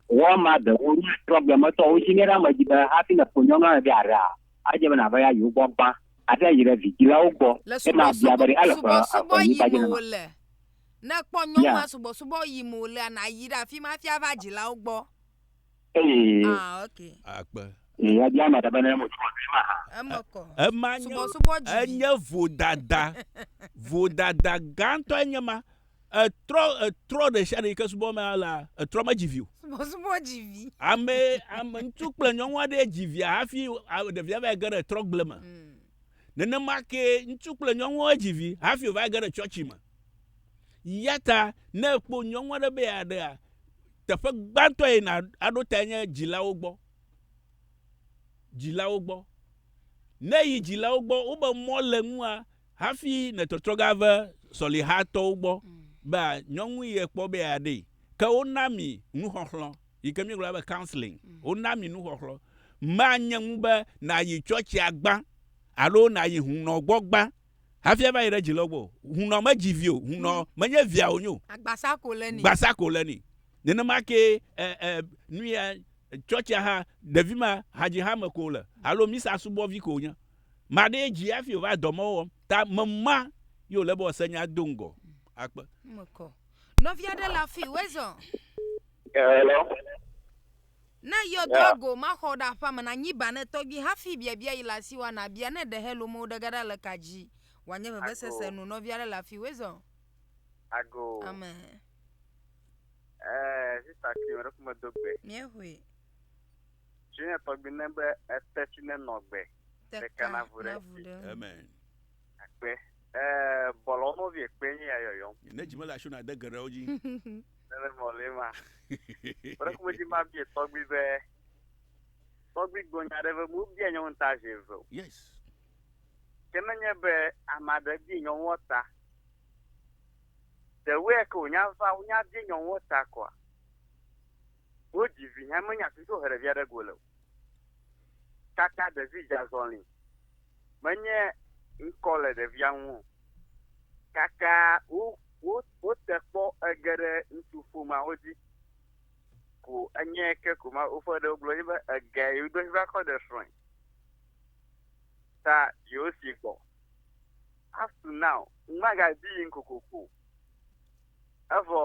wɔ ma de wo ni problem me to wo shi ne ra me di be ha fi na ko nyo na de ara. A je me na ba ya yo gbo gba. A ta yi re vi di la wo gbo. E ma bia ba de ala ko a ko ni ba je na. Na kpo nyo ma subo subo yi mo le na yi ra fi ma fi a va ji la wo gbo. Ah, ok. Akpe. Ema nye enye vodada. Vodada gãtɔe nye ma. Etrɔ etrɔ ɖe sia ɖe yi ke subɔ me la, etrɔ medzi vi o. Subɔsubɔ dzi vi. Ame ame ŋutsu kple nyɔnu aɖe dzi via hafi ɖevia va yi ge ɖe trɔgble me. Mm. Nenema kee ŋutsu kple nyɔnua dzi vi hafi wova ge ɖe tsɔtsi me. Yata ne ekpɔ nyɔnua ɖe be yeaɖea, teƒe gbãtɔ yi na aɖo tae nye dzilawo gbɔ. Dzilawo gbɔ. Ne yi dzilawo gbɔ, wobe mɔ le ŋua hafi netɔtrɔ ga ve sɔlihatɔwo gbɔ be nyɔnu ye kpɔ be yeaɖee. Ke wona mi nuxɔxlɔ. yi ke míegblɔna be counseling, mm. wona mi nuxɔxlɔ. Manye ŋu be nàyi tsɔtsia gbã alo nàyi hunɔ gbɔ gbã hafi ava yi ɖe dzi lɔ gbɔ. Hunɔ medzi vi o, hunɔ mm. menye via wònye o. Agbasa ko le ni. Gbasa ko le ni. Nenema ke ɛ ɛ nu ya tsɔtsia hã ɖevi ma hadzi hã me ko le alo misa subɔvi ko nye. Maɖee dzi hafi wòva dɔmewo wɔm. Ta mema yi wòle be wòase nya do ŋgɔ mm. akpe. Mekɔ. Nɔvi aɖe le afi wezɔ. Hello. Ne yɔdo yeah. go maxɔ ɖe aƒea me na nyiba ne tɔgbi hafi biabia yi le asi wa na bia ne ɖe hello mo ɖe gaɖa le ka dzi wanye vevesese nu nɔvi aɖe le afi wezɔ. Ago. Amen. Ɛɛ eh, sista kiri wɛrɛ kuma do gbe. Mie hoe. Tsi ne tɔgbi ne be ete tsi ne nɔ gbe. Teka na vu ɖe. Amen. Akpe. Eh, bɔlɔ no vie kpe nye ya yɔyɔm. Ne dzi mele asho na de geɖe wo dzi. Nele mɔle ma. Ore kuma dzi ma bie tɔgbi be. Tɔgbi gbonya ɖe be mu bia nyɔnu ta zi eve. Yes. Ke ne nye be ame aɖe bie nyɔnua ta. Ɖewoe ke wonya va wonya bie nyɔnua ta kɔa. Wodzi vi hɛn menya fi si wohe ɖevia ɖe go le o. Kaka ɖevi dza zɔli menye ŋkɔ le ɖevia ŋu o. Kaka wo wo wote kpɔ ege ɖe ŋutsu ƒomeawo dzi ko enye ke ko ma woƒe ɖewo gblɔ dzi be ege yi do va kɔ ɖe srɔ̃e. Ta yewo si gbɔ. Up to now, magadi yim kokoko. Evɔ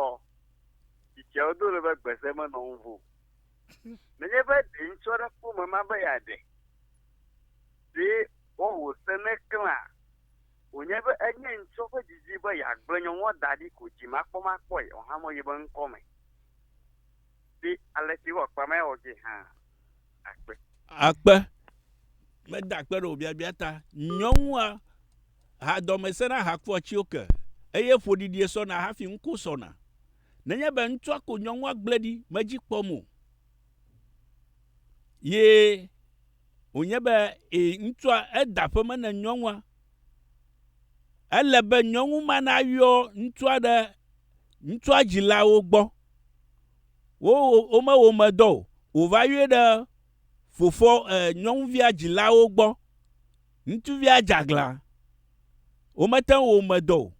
tsitsiawo do ɖe be gbese menɔ ŋu vo. Nenye be ɖe ŋutsu aɖe kpɔ mama be yeaɖe, ɖe woawɔ se ne klẽa? Wònye be enye ŋutsua ƒe didi be yeagblẽ nyɔnua da ɖi ko dzimakpɔmakpɔe wòahamɔ yi be ŋkɔ me. Di alesi wɔ kpea me wɔ dzi hã akpe. Akpe. Meda akpe ɖe wò biabia ta. Nyɔnua ha dɔme sena hakua tsi oke eye ƒoɖiɖie sɔna hafi ŋko sɔna. Nenye be ŋutsua ko nyɔnua gblẽ ɖi medzi kpɔm o ye wònye be e, ŋutsua eda aƒe me ne nyɔnua, ele be nyɔnu ma nayɔ ŋutsua ɖe ŋutsua dzilawo gbɔ. Wo womewɔ ame dɔ o. Wòva yɔe ɖe fofoa e, nyɔnuvia dzilawo gbɔ. Ŋutsuvia dze aglã. Womete ŋu wɔ ame dɔ o.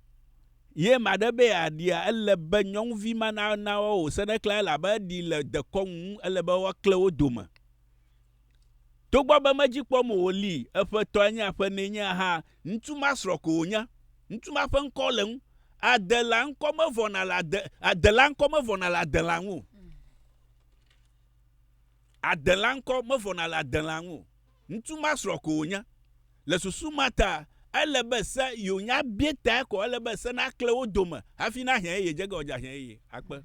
Ye ame aɖe be yeaɖia, ele be nyɔnuvi ma na na woawo wòse ɖe klẽ elabe eɖi le dekɔnu ŋu, ele be woaklẽ wo dome. Togbɔ be medzi kpɔm o wòli, eƒe tɔe nye aƒe nɛ nye hã, ŋutsu ma srɔ̃ ko wònye. Ŋutsu ma ƒe ŋkɔ le ŋu. Adela ŋkɔ mevɔna le ade, Adela ŋkɔ mevɔna le Adela ŋu o. Adela ŋkɔ mevɔna le Adela ŋu o. Ŋutsu ma srɔ̃ ko wònye. Le susu ma ta, ele be se yewo nya bie tae ko, ele be se nakle wo dome hafi nahiã eye dze ge wòadze ahiã eye akpe.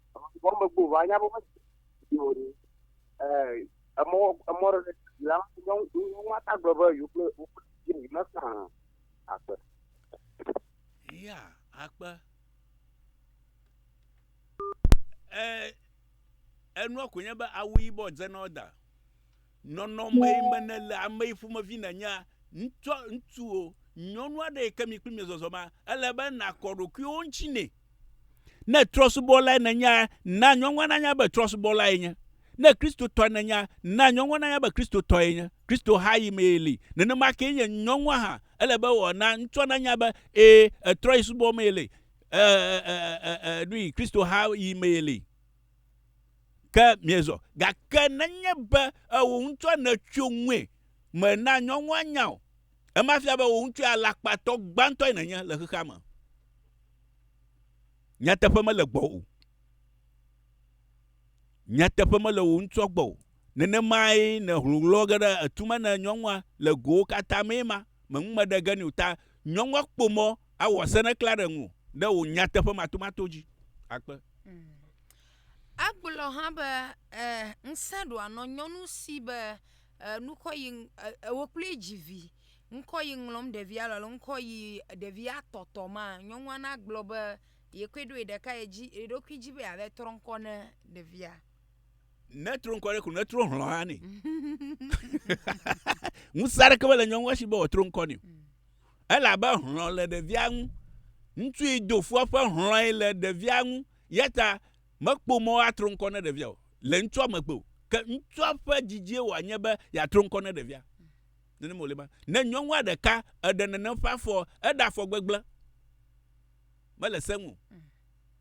Vɔn me gbɔ va nya bo me yo ni. Eh emɔ emɔ re la yo yo ma ta gbe be yo kle yo kle yo ni na sa akpe. Ya akpe. Eh enua ko nye be awu yibɔ dze na oda. Nɔnɔmee me nèle ame yi ƒomevi nènyea? Ŋutsua, ŋutsu o, nyɔnu aɖe yi ke mi kpli miezɔzɔma, ele be nàkɔ ɖokuiwò ŋuti nɛ. Ne trɔ̃subɔlae nènyea, na nyɔnua nanya be trɔ̃subɔlae nye. Ne Kristotɔe nènyea, na nyɔnua nanya be Kristotɔe nye. Kristo ha yi mee li. Nenema kee nye nyɔnua hã. Ele be wòana ŋutsua nanya be, ẽ, etrɔ̃yi subɔ mee li. Ẽ, ẽ, ẽ, ẽ, ẽ, ẽ, ẽ, ẽ, ẽ, nui, Kristo ha yi mee li. ke miezɔ. Gake nenye be ewò ŋutɔ nètso ŋue me na nyɔnua nya o, ema fia be wò ŋutɔe alakpatɔ gbãtɔe nènye le xexea me. Nyateƒe mele gbɔwò o. Nyateƒe mele wò ŋutɔ gbɔ o. Nenemae nèhlɔ̃ ge ɖe etu me ne nyɔnua le gowo katã mee ma. meŋu me ɖe ge nɛ o ta nyɔnua kpo mɔ awɔ asene kla ɖe ŋu ɖe wò nyateƒe matomato dzi. Akpe. Hmm. Agblɔ hã be eh, ŋsẽ ɖoa nɔ nyɔnu si be eh, nukɔ yi eh, ewo kple dzi vi ŋkɔ yi ŋlɔm ɖevia lɔ ŋkɔ yi ɖevia tɔtɔ ma nyɔnua na gblɔ be yekoe ɖo yi ɖeka ye dzi yeɖokui dzi be yeave trɔ ŋkɔ ne ɖevia. Netro ŋkɔ ɖe ko netro hlɔ hã ne. Ŋusẽ aɖeke mele nyɔnua si be wòatro ŋkɔ ne. Mm. Elabe hlɔ le ɖevia ŋu. Ŋutsu yi do fua ƒe hlɔe le ɖevia ŋu. Yata mekpɔ mɔ atro ŋkɔ ne ɖevia o. Le ŋutsua megbe o. Ke ŋutsua ƒe didzie wòanye be yeatro ŋkɔ ne ɖevia. Nenem wòle ma. Ne nyɔnua ɖeka eɖe nenem ƒe afɔ, eɖe afɔ gbegblẽ. Mele seŋu. Mm.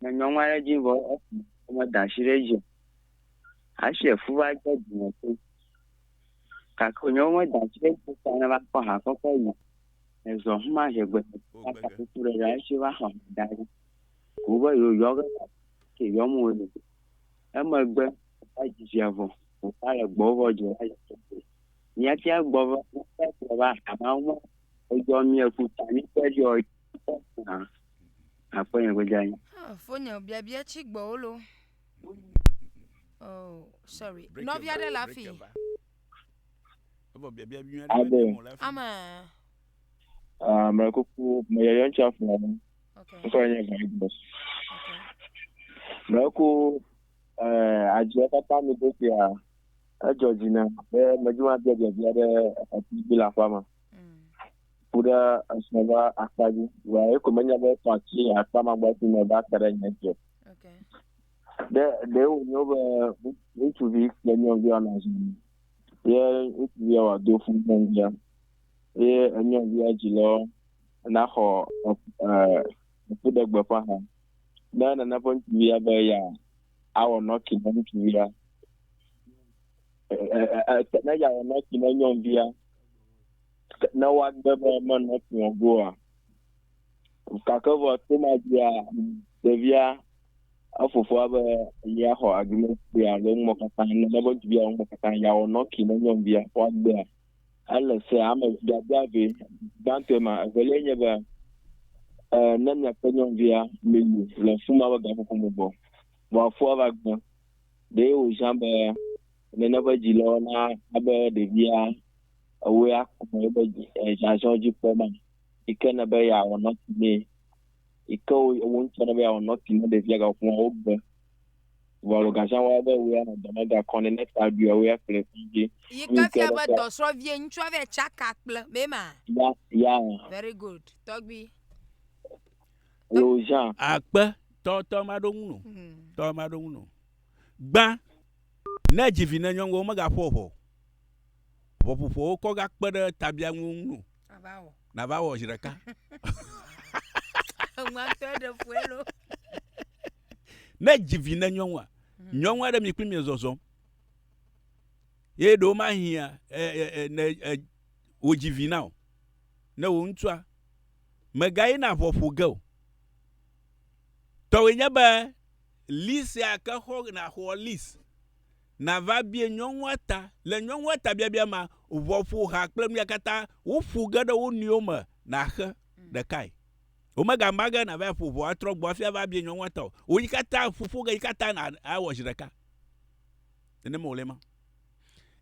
me nyɔ ŋua ɖe dzi vɔ me da asi ɖe edzi o. Asi efu va dze dzime to. Gake wònye wo me da asi ɖe edzi ta ne va kpɔ ha kɔkɔ yi. Ezɔ huma zi gbe ɖe ta ta kuku ɖe ɖa esi va xɔ da ɖi. Ko be yewo yɔ ge ta ke yɔ mu wo ɖe. Emegbe va dzi via vɔ. Wòva le gbɔ vɔ dzi va dzi vɔ. Mía fia gbɔ vɔ mía fia gbɔ va ha ma wo me. Edzɔ mía ku ta mí kpe ɖe yewo dzi. Akpɔ nye gbedza anyi. Ah, fonye biabia tsi gbɔwo lo. Oh, sorry. Nɔvi aɖe le afi. Ade. Ama. Ah, me kuku me yɔyɔ ntsi afɔ. Okay. Ŋkɔ nye Bible. Okay. Me ku eh adzɔ kata mi do sia. Edzɔ dzina be me dzi wa biabia biabia ɖe afi bi la fa ma. ku ɖe esrɔ ƒe akpa dzi wa eko menya be tɔ ti akpa magba ti me va te ɖe nye dzi o ɖe ɖe wonyo be ŋutsuvi kple nyɔnuvi anɔ zɔmi ye ŋutsuvia wa do fún nyɔnuvia ye nyɔnuvia dzi lɔ naxɔ eku ɖe gbe ƒe ha ne nana ƒe ŋutsuvia be ya awɔ nɔki ne ŋutsuvia ne ya wɔ nɔki ne nyɔnuvia ne woagbe be menɔ kplɔ goa. Gake vɔ to ma dzia, ɖevia efofoa be ya xɔ agreement ya le ŋmɔ katã ne ne be duvia ŋmɔ katã ya wɔ nɔki ne nyɔnuvia xɔ agbea. Ele se ame gbadza ve gbãtɔe ma evelia nye be eh, ne miakpe nyɔnuvia meyi le fuma be gaƒoƒo me gbɔ. Vɔ afua va gbã. Ɖe wòzã be Nene eƒe dzilawo na abe ɖevia ewoe akɔ nɔ eƒe zazɔ dzi kpɔm ma, yi ke ne be yeawɔ nɔti nɛ, yi ke wo ŋutɔ ne be yeawɔ nɔti ne ɖevia gaƒoƒo ma wogbe. Vɔ alo gazã wɔ be ewoe anɔ dɔ me gakɔ nɛ ne ta ɖuia ewoe akplɔe yi kɔdzi. Yi ke fia be dɔsrɔ̃vie ŋutsua vɛ tsaka kple mee ma. Ya ya. Very good tɔgbui. Alo zã. Akpe tɔ tɔ maɖo ŋu no. Tɔ maɖo ŋu no. Gbã. Ne èdzi vi ne nyɔnuwo megaƒo ʋɔ o, ʋɔƒoƒoawo kɔ gakpe ɖe tabiaŋuwo ŋu o. Nava wɔ zi ɖeka. Ne èdzi vi ne nyɔnua, hmm. nyɔnu aɖe mi kpli mi zɔzɔm. Ye ɖewo mahiã ne wòdzi vi na o. Ne wò ŋutsua, megayina ʋɔ ƒo ge o. Tɔwòe nye be list ya ke xɔ nàxɔ list nàva bie nyɔnua ta. Le nyɔnua ta biabia mea, ʋɔ ƒo ha kple nu ya katã woƒo ge ɖe wo nɔewo me nàxe ɖekae. Womegama ge nàva aƒo ʋɔa atrɔ gbɔ hafi ava bie nyɔnua ta o. Wò yi katã ƒo ƒo ge yi katã nà awɔ zi ɖeka. Nenema wòle ema.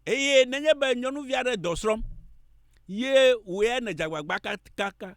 Eye nenye be nyɔnuvi aɖe dɔ srɔ̃m ye wòe nèdze agbagba kaka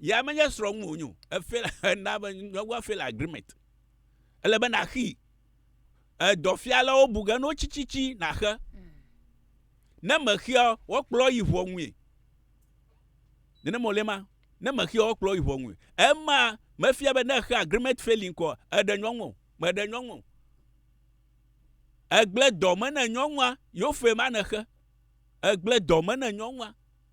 ya menye srɔ̃ ŋu wònyo efe na be nyɔnua fail agreement ele be naxii edɔfialawo bu ge no tsitsitsi naxe ne mexia woakplɔ yi ʋɔnue nene mɔlɛ ma ne mexia woakplɔ yi ʋɔnue ema mefia be ne exe agreement failing kɔ eɖe nyɔnu meɖe nyɔnu egble dɔ me ne nyɔnua yo fe ma nexe egble dɔ me ne nyɔnua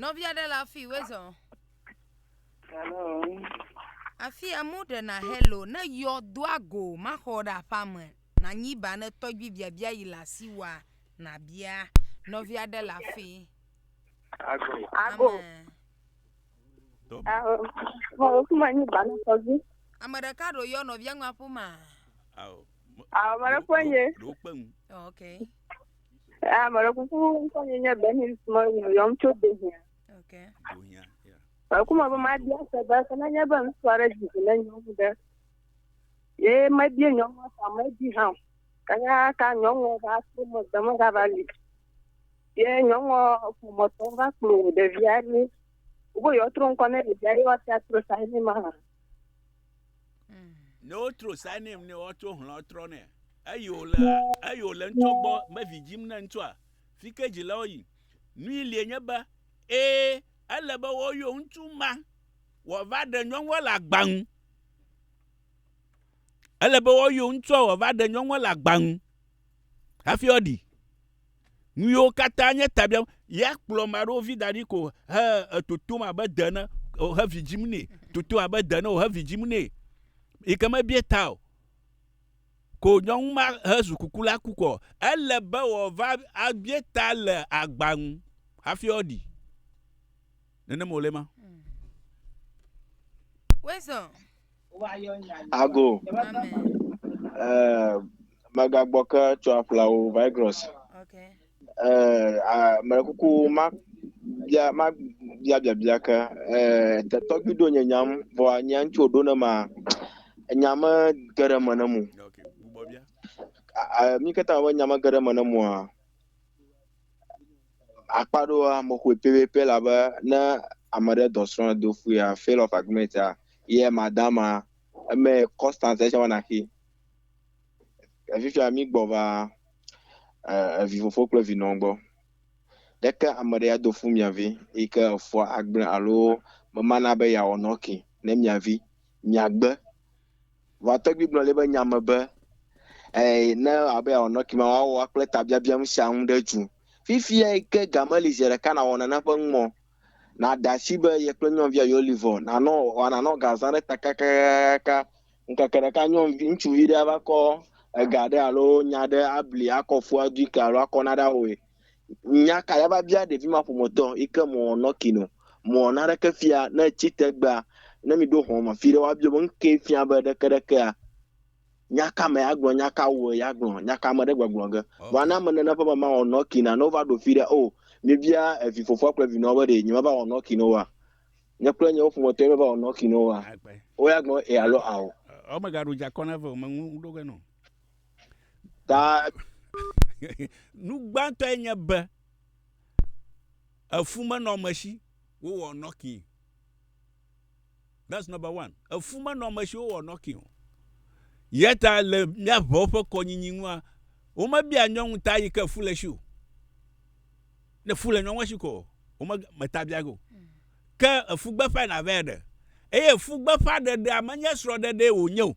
nɔvi aɖe le afi wezɔ Hello. afi amewo ɖena hello ne yɔ do ago maxɔ ɖe aƒea me nanyi ba ne tɔgbi biabia yi le asi wa nabia nɔvi aɖe le afi Ago. Ago. Amen. Aho. Mo kuma ni bana kozi. ame ɖeka ɖo yɔ nɔvia ŋu aƒe ma Ao. Ame ɖe ƒe nye. Ok. Ame ɖe kuku ŋkɔ nye nye Benin me yɔm tso Dohia. Ok. Dohia. Ekuma be mabia se be ke nenye be ŋutsu aɖe dzi zi ne nyɔnu ɖe ye mebie nyɔnu ta medi hã o. Kanya ka nyɔnu va to megbe megava li. Ye nyɔnu ƒometɔ va kplɔ ɖevia ɖi. Wo yɔtro ŋkɔ ne ɖevia ye woatia tro sa ne ma. Ne wotro sa nɛ ne woatsɔ hlɔ trɔ nɛ. Eyi wòle eyi wòle ŋutsu gbɔ mevi dzim ne ŋutsua. Fi ke dzilawo yi. Nui lie nye be ee ele be woyɔ ŋutsu ma wòava ɖe nyɔnua le agba nu. Ele be woyɔ ŋutsua wòava ɖe nyɔnua le agba nu hafi woaɖi. Nuyiwo katã nye ta biam. Ya kplɔ ame aɖewo vi da ɖi ko he etotom abe de ene he vi dzim nɛ. Totom abe de ene he vi dzim nɛ. Yi ke mebia ta o. Ko nyɔnu ma he zu kuku la ku kɔ. Ele be wòava abia ta le agba nu hafi woaɖi. Nenem wòle ma. Ago. Eh, mega boke tsɔ apla o virus. Okay. Eh, ah, me kuku ma bia ma bia bia bia ke eh te tɔgbi do nye nyam vɔ nya ŋutsu do ne ma nya me gere me ne mu. Okay. Bubɔ bia. Ah, mi keta me nya me gere me ne mu a. akpa ɖoa mo xɔe pɛpɛpɛ la be ne ame ɖe dɔ srɔ̃ do fu ya fail of agreement ya ye madama eme constant ɛsɛ wɔna xi efifia mi gbɔ va evi fofo kple vi nɔ gbɔ ɖeke ame ɖe ya do fu mia vi yi ke efua agble alo memana be ya wɔnɔ ki ne mia vi miagbe. Vɔa tɔgbui gblɔ le eƒe nya me be, Ɛɛ, ne ewɔ abe yeawɔ nɔki ma, woawɔ woa kple tabiabia nu sia nu ɖe dzu. Fifia yi ke game li zi ɖeka nàwɔ nane ƒe nu mɔ, nàɖe asi be ye kple nyɔnuvia yeolivɔ, nanɔ, ɔɔ, nanɔ ga zã ɖe ta kakakakaka. Ŋkeke ɖeka nyɔnuvi, ŋutsuvi ɖe ava kɔ ega ɖe alo nya ɖe abli akɔ fu adoe ke alo akɔ naɖe awɔe. Nya ka yava bia ɖevi ma ƒometɔ yi ke mɔ nɔki nɔ? Mɔ naneke fia ne etsi tegbea? Ne mi ɖo hɔn ma fi ɖe wa bia be nuke fia be ɖeke ɖekea? Nya ka me ya gblɔ? Nya ka wɔ ya gblɔ? Nya ka me ɖe gbɔgblɔ ge? Vɔa ne ame nene ƒe mama wɔ nɔki na ne wova ɖo fi ɖe o mi bia evi fofoa kple vinɔa be ɖe nye meva wɔ nɔki na woa? Nye kple nye wo ƒometɔ ye meva wɔ nɔki na woa? Wo ya gblɔ e alo ao. Ɔ me ga ɖo dza kɔ na ve o me ŋu ɖo ge nɔ. Ta nu gbãtɔe nye be efu menɔ ame si wowɔ nɔki. That's number one. Efu menɔ ame si wowɔ nɔki o. Yeta le míaʋewo ƒe kɔnyinyi ŋua, womebia nyɔnu ta yi ke fu le si o. Ne fu le nyɔnua si ko, wometa bia go. Ke efu gbeƒã na vɛ ɖe. Eye efu gbeƒã ɖeɖea menye srɔ̃ɖeɖee wònye o.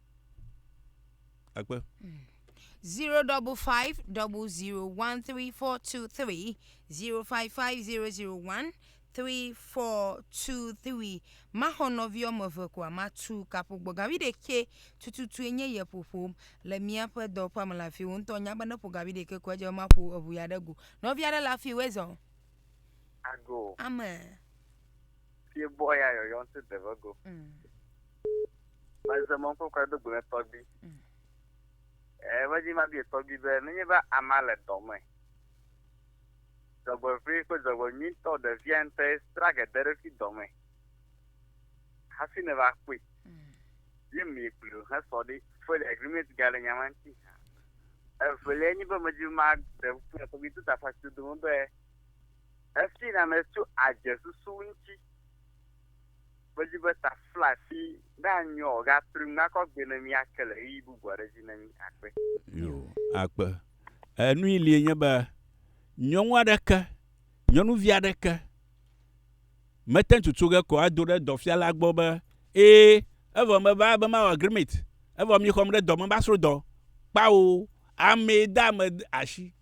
Akpe. zero double five double zero one three four two three zero five five zero zero one three four two three maxɔ nɔvi wɔme eve koa matu kaƒo gbɔgavi ɖekɛ tututu enye yɛ ƒoƒom le míaƒe dɔwɔƒea me le afi wo ŋutɔ nya be ne ƒo gavi ɖekɛ ko edze be maƒo eʋu ya ɖe go nɔvi aɖe le afi wo ezɔ ago ame fie bɔ ya yɔyɔ ŋuti deve go mm. Maze mɔ kɔkɔ do gbe tɔgbi. Mm. Eh, va dzi ma bi tɔgbi be ne nye va ama le dɔ me. Zɔgbe vri ko zɔgbe nyi tɔ de via nte stra ke de refi dɔ me. Hafi ne va kui. Mm. Ye mi kui lo ha so di full agreement ga le nyama nti. Eh, full ye nyi be me dzi ma de ku ko bi tuta fa tu do be. Eh, fi na me tu aje susu nti. Medi be taflafi nanyɔ o, gatrui ŋu nakɔ gbee ne míake le ɣeyiɣi bubu aɖe dzi ne mí. Akpe. Yo, akpe. E, nui lie nye be nyɔnu aɖeke, nyɔnuvi aɖeke mete ŋu tso ge ko ado ɖe dɔfiala gbɔ be, Ẽ, evɔ meva be mawɔ agreement, evɔ mixɔm ɖe dɔ me be asro dɔ. Kpao, amee de ame asi.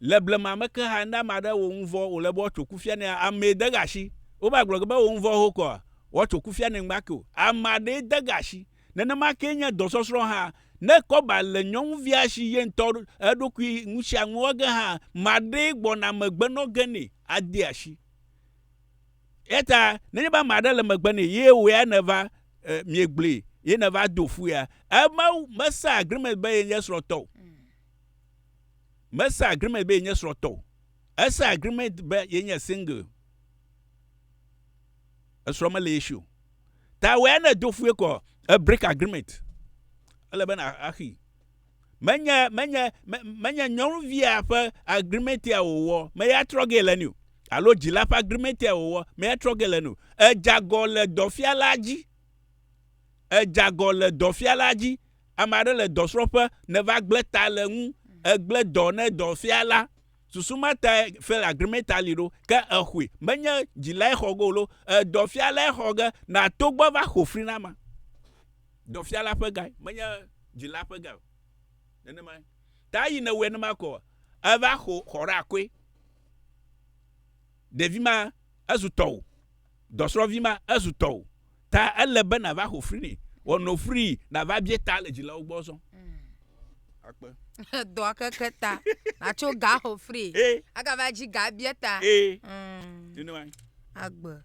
Le blema me ke hã, ne ame aɖe wɔ nu vɔ̃ wòle be woatso kufia nɛ, amee de gasi. Wova gblɔ ge be ewɔ nu vɔ̃ xoxo koa, woatso kufia nɛ ŋgba ke o. Ame aɖee de gasi. Nenema kee nye dɔsɔsrɔ̃ hã. Ne kɔba le nyɔnuvia si ye ŋutɔ eɖokui nu sia nu wɔ ge hã, ame aɖee gbɔna megbe nɔ ge nɛ ade asi. Eya ta nenye be ame aɖe le megbe nɛ ye wò ya nèva e, miegblẽe ye nèva do ƒu ya, eme mesa agreement be yenye srɔ̃tɔ o. Mesa agreement be yenye srɔ̃tɔ o. Esa agreement be yenye single. Esrɔ̃ mele ye si o. Ta wò ya ne do ƒu ye kɔ, e break agreement. Ele be na axi. menye menye menye nyɔnuvia ƒe agrimentia wòwɔ meya trɔ ge le ni o alo dzila ƒe agrimentia wòwɔ meya trɔ ge le ni o edzagɔ le dɔfiala dzi edzagɔ le dɔfiala dzi ame aɖe le dɔsrɔ̃ƒe neva gblẽ ta le ŋu egblẽ dɔ ne dɔfiala susu ma ta fel agrimenta li ɖo ke exɔe menye dzilae xɔ ge o lo edɔfialae xɔ ge na togbɔ va xɔ fri na ma Dɔfiala ƒe gae, menye dzila ƒe gae o. Nenemae. Ta eyi newɔe ne makɔ. Eva xɔ ɖeakoe. Ɖevi ma, ezu tɔwò. Dɔsrɔ̃vi ma, ezu tɔwò. Ta ele be nàva xɔ fri nɛ. Wɔ no fri nàva bie ta le dzilawo gbɔ zɔ. Akpe. Dɔa keke ta. Nàtso ga xɔ fri. Agava dzi ga bie ta. Nenemae. Agbe.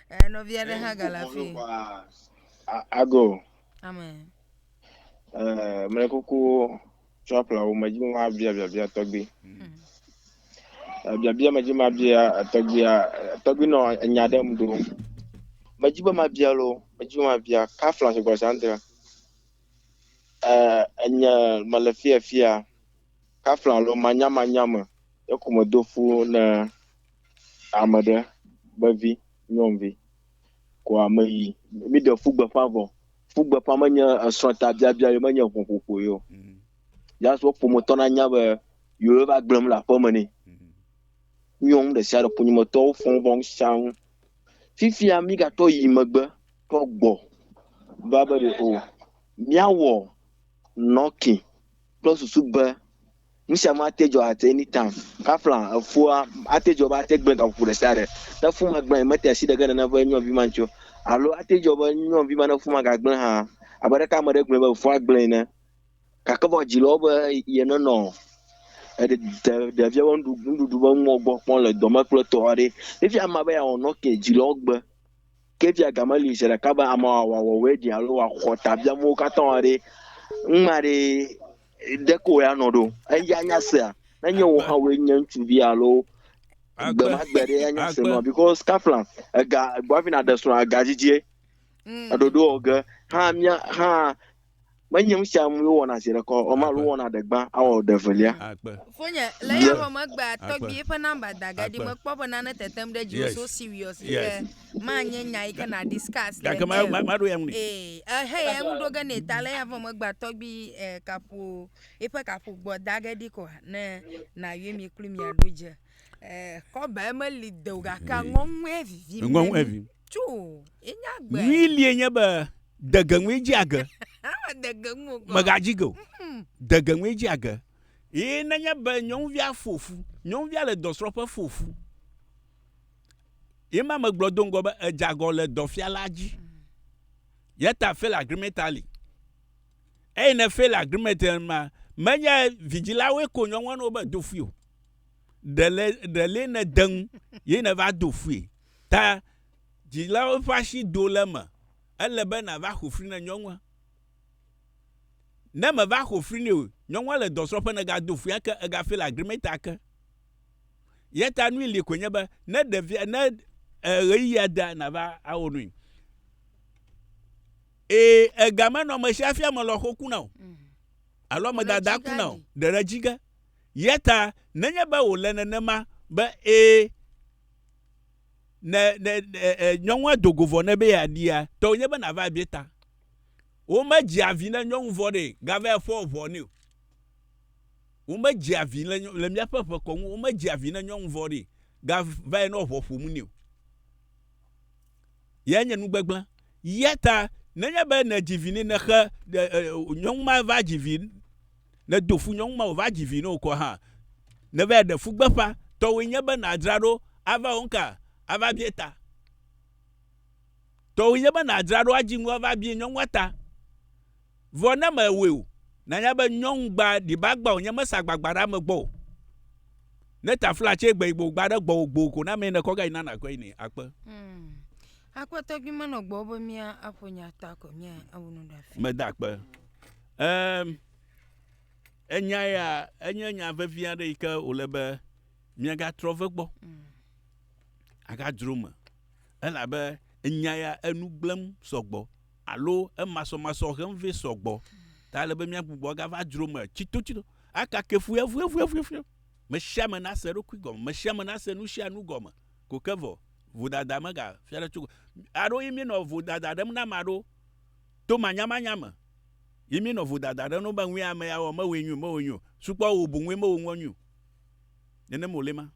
Eh, nɔvi aɖe hã gale afii. Ago. Amen. Eh, mele kuku tsɔ ƒle wo medzi ma bia biabia tɔgbi. Hmm. Eh, biabia medzi ma bia tɔgbia tɔgbi nɔ enya ɖe mu do. Medzi be ma bia lo, medzi ma bia ka fla se gɔsa nte. Eh, enya mele fia fia. Ka fla lo manya manya me. Ekume do fu ne Ame ɖe be vi nyɔnuvi koa meyi. Míɖe fu gbeƒã vɔ. Fu gbeƒã menye esrɔ̃tabiabia ye menye ʋɔƒoƒo ye o. Mm. Just wo ƒometɔ nanya be yewo va gblẽm le aƒeme nɛ. Mm. Nyɔnu ɖe sia ɖe ƒonyemetɔwo fɔm vɔ ŋusãŋu. Fifia mígatɔ yi megbe tɔ gbɔ va be ɖe o míawɔ nɔki kple susu be Nusia ma te dzɔ at any time, kafla efua ate dzɔ be ate gblẽ gaƒoƒo ɖesiaɖe. Ne fu magblẽ mete asi ɖeke nene ƒe nyɔnvi ma ŋuti o, alo ate dzɔ be nyɔnvi ma ne fu magagblẽ hã, abe aleke ame aɖe gblɔe be efua gblẽe ene. Gake vɔ dzi le wo be yenenɔ eɖe de ɖevia ƒe nuɖu nuɖuɖu ƒe nuwo gbɔ kpɔm le dɔme kple etɔ aɖee. Fifia amea be yeawɔ nɔ ke dzi le wo gbe. Ke fia game li zeɖeka be amea wòawɔ wòawɔe ɖi alo wòaxɔ tabiamowo katã aɖee. Numa ɖee. Ɖe koe anɔ ɖo? Eya nya sea? Nenye wò hã wòe nye ŋutsuvi alo gbe ma gbe ɖe anya se nɔ because kafla ega gbavi na ɖe srɔ̃ ega dzidzie. Mm. Eɖoɖo ɔge hã mia hã menye nu sia nu wɔna zi ɖekɔ ɔma alo wɔna ɖe gbã awɔ ɖe velia. Fonye le ya ƒe megbea tɔgbie ƒe namba da ge ɖi mekpɔ be nane tetem ɖe dzi so serious ke. manye nya yi ke na discuss le gake ma- ma- eme. maɖo ya ŋu nɛ Ee, ehe ya ŋu ɖo ge nɛ ta le avɔ megba tɔgbi eh, kaƒo eƒe kaƒo gbɔ da ge ɖi kɔ ne nayɔe mi kloe miaɖo dze. Eh, kɔba meli de o gake aŋɔŋɔe vivi ŋgɔ ŋu evi tso enya gbe. nyui lie nye be dege ŋue dzi age Ama dege ŋu o kɔ. megadzi ge o Hmm. dege ŋue dzi age ye nenye be nyɔnuvia fo fu nyɔnuvia le dɔsrɔ̃ƒe fo fu Ye ma megblɔ do ŋgɔ be edzagɔ le dɔfiala dzi. Yeta fail agreement ali. Eye ne fail agreement ma, menye vidzilawoe ko nyɔnua no be do fui o. Ɖele ɖele ne deŋ ye ne va do fui. Ta dzilawo ƒe asi do le me. Ele be na va xofri ne nyɔnua. Ne me va xofri ne o, nyɔnua le dɔsrɔ̃ƒe ne ga do fui ake ega fail agreement ake. Yata nui li koe nye be ne ɖevia ne ɣeyiɣia da nava awo nui. Ee, ega menɔ ame sia fia me lɔxo kuna o. Mm. Alo ame dada kuna o. Ɖeɖe dzi ge. Yata nenye be wòle nenema be ee ne ne nyɔnua do go vɔ ne be yeaɖia, tɔ wònye be nava bia ta. Womedzia vi ne nyɔnu vɔ ɖe gava eƒe ʋɔ nɛ o. Womedzea vi le, le míaƒe ƒe kɔnu, womedzea vi ne nyɔnu vɔ̃ ɖi ga vae nɔ ʋɔ ƒom nɛ o. Yae nye nugbegblẽ. Ya ta nenye be nèdzi vi ne nexe nyɔnu ma va dzi vi nedo fu nyɔnu ma wòva dzi vi ne wòkɔ hã nevae ɖe fu gbeƒã tɔwoe nye be nàdzra ɖo ava wɔ nuka ava bie ta tɔwoe nye be nàdzra ɖo adzi nu ava bie nyɔnua ta Vɔ ne mewɔe o, nanya be nyɔŋugba ɖibagba wònye mesa agbagba ɖe ame gbɔ o. Ne tafla tse gbe yi gbo gba ɖe gbɔwò gboo ko na mee ne kɔ ga yi na nakɔ yi ne akpe. Mm. Akpɛtɔ gbi menɔ gbɔ be mía aƒo nya ta ko mía awu nu ɖa fi. Meda akpe. Ehm, enya ya enye nya vevi aɖe yi ke wòle be míagatrɔ ve gbɔ. Mm. Agadzro me. Elabe enya ya enu gblẽm sɔ gbɔ alo emasɔmasɔ hem vɛ sɔ gbɔ ta ele be míagbugbɔ agava dzro me tsitotsito aka kefuyavuyavuyavuyavuya. Mesiame nase eɖokui gɔme, mesiame nase nusianu gɔme ko ke vɔ. Vodada megafia ɖe tso aɖewo ye míenɔ vodada ɖem na ame aɖewo to manyamanya me ye míenɔ vodada ɖem na wo be ŋue ame ya wɔ mewɔe nyui o, mewɔe nyui o, sukpɔ wò boŋue mewɔ nuɔ nyui o. nenem wòle ma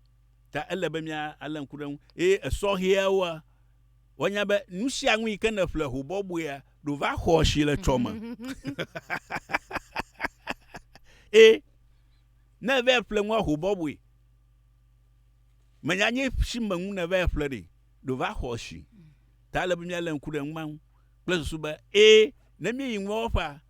ta ele be míalé ŋku ɖe eŋu. Eye esɔhɛawoa, woanya be nu sia nu yi ke nèƒle ho bɔbɔea, ɖo va xɔ asi le tsɔ me. Eye ne eva ƒle nua ho bɔbɔe, menya nye si me nu nèva ƒle ɖi, ɖo va xɔ asi. Ta ele be míalé ŋku ɖe nu ma ŋu kple susu be, eye ne míeyi nua wɔƒea,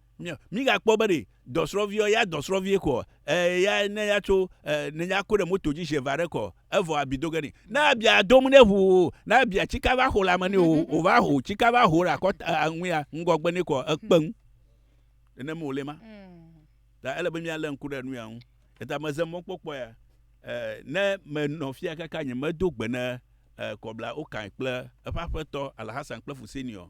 Mígakpɔ be ɖe dɔsrɔ̃viɔ ya dɔsrɔ̃vie kɔ ɛɛ ya ne ya tso ɛɛ ne ya ko ɖe moto dzi ʒe va ɖe kɔ evɔ abi do ge ni. Ne abi a do ŋu ne ŋu o ne abi a cika va xo le ame ni o o va ho cika va ho ɖe akɔta a ŋuia ŋgɔgbe ni kɔ ekpe ŋu. Nene me wole ma. Ta ele be mía le ŋku ɖe nuya ŋu. Eta me ze mɔkpɔkpɔ ya ɛɛ ne me nɔ fia kaka nye me do gbe ne ɛɛ kɔbla Okan kple eƒe aƒetɔ Alhassan kple Fuseni ɔ,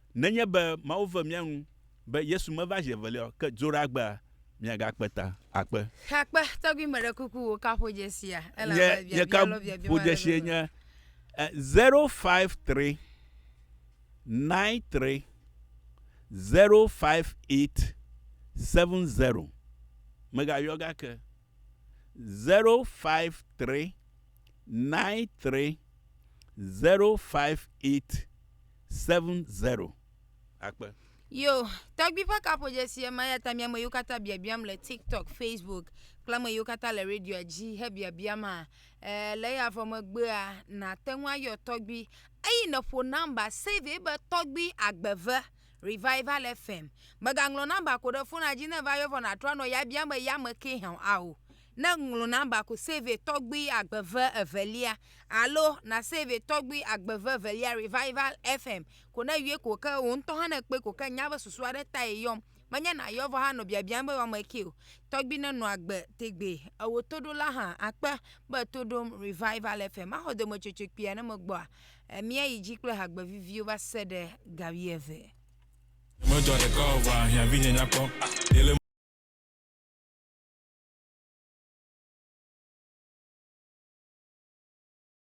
Nenye be Mawu ve mía nu be Yesu meva zi evelia o, ke dzo ɖe agbea, miagakpe ta. Akpe. Xakpe, tɔgbi meɖe kuku wò ka ƒodzesia elabe biabia lɔ biabia ma le ƒodzesie nye 053 93 058 70 megayɔ gake. zero five three nine three zero five eight seven zero. Akpe. Yo, tɔgbi ƒe kaƒodzesi ye ma, eya ta mi ame yiwo katã biabiam le TikTok, Facebook kple ame yiwo katã le radioa dzi hebiabia ma, e, le eya vɔ megbea, nàte ŋu ayɔ tɔgbi eye nèƒo nɔmba, save ye be tɔgbi agbeve. Revival FM. Mègaŋlɔ nɔmba ko ɖe fona dzi ne eva yɔ vɔ nàtrɔ anɔ ya biam be ya me kee hã a o. Ne ŋlɔ nɔmba ko save tɔgbui agbeve evelia alo na save tɔgbui agbeve evelia Revival FM ko ne yɔe ko ke wò ŋutɔ hã ne kpɔe ko ke nya be susu aɖe tae yɔm menye nàyɔ vɔ hanɔ biabiam be woame kee o. Tɔgbui nenɔ agbe tegbee. Ewò toɖola hã akpe be to ɖom Revival FM. Maxɔ dometsotso kpuia ne megbɔa? Míayi dzi kple hagbe viviwo va se ɖe ga wuieve. Medzɔ ɖeka o vɔa hiã vinye nya kpɔ yele.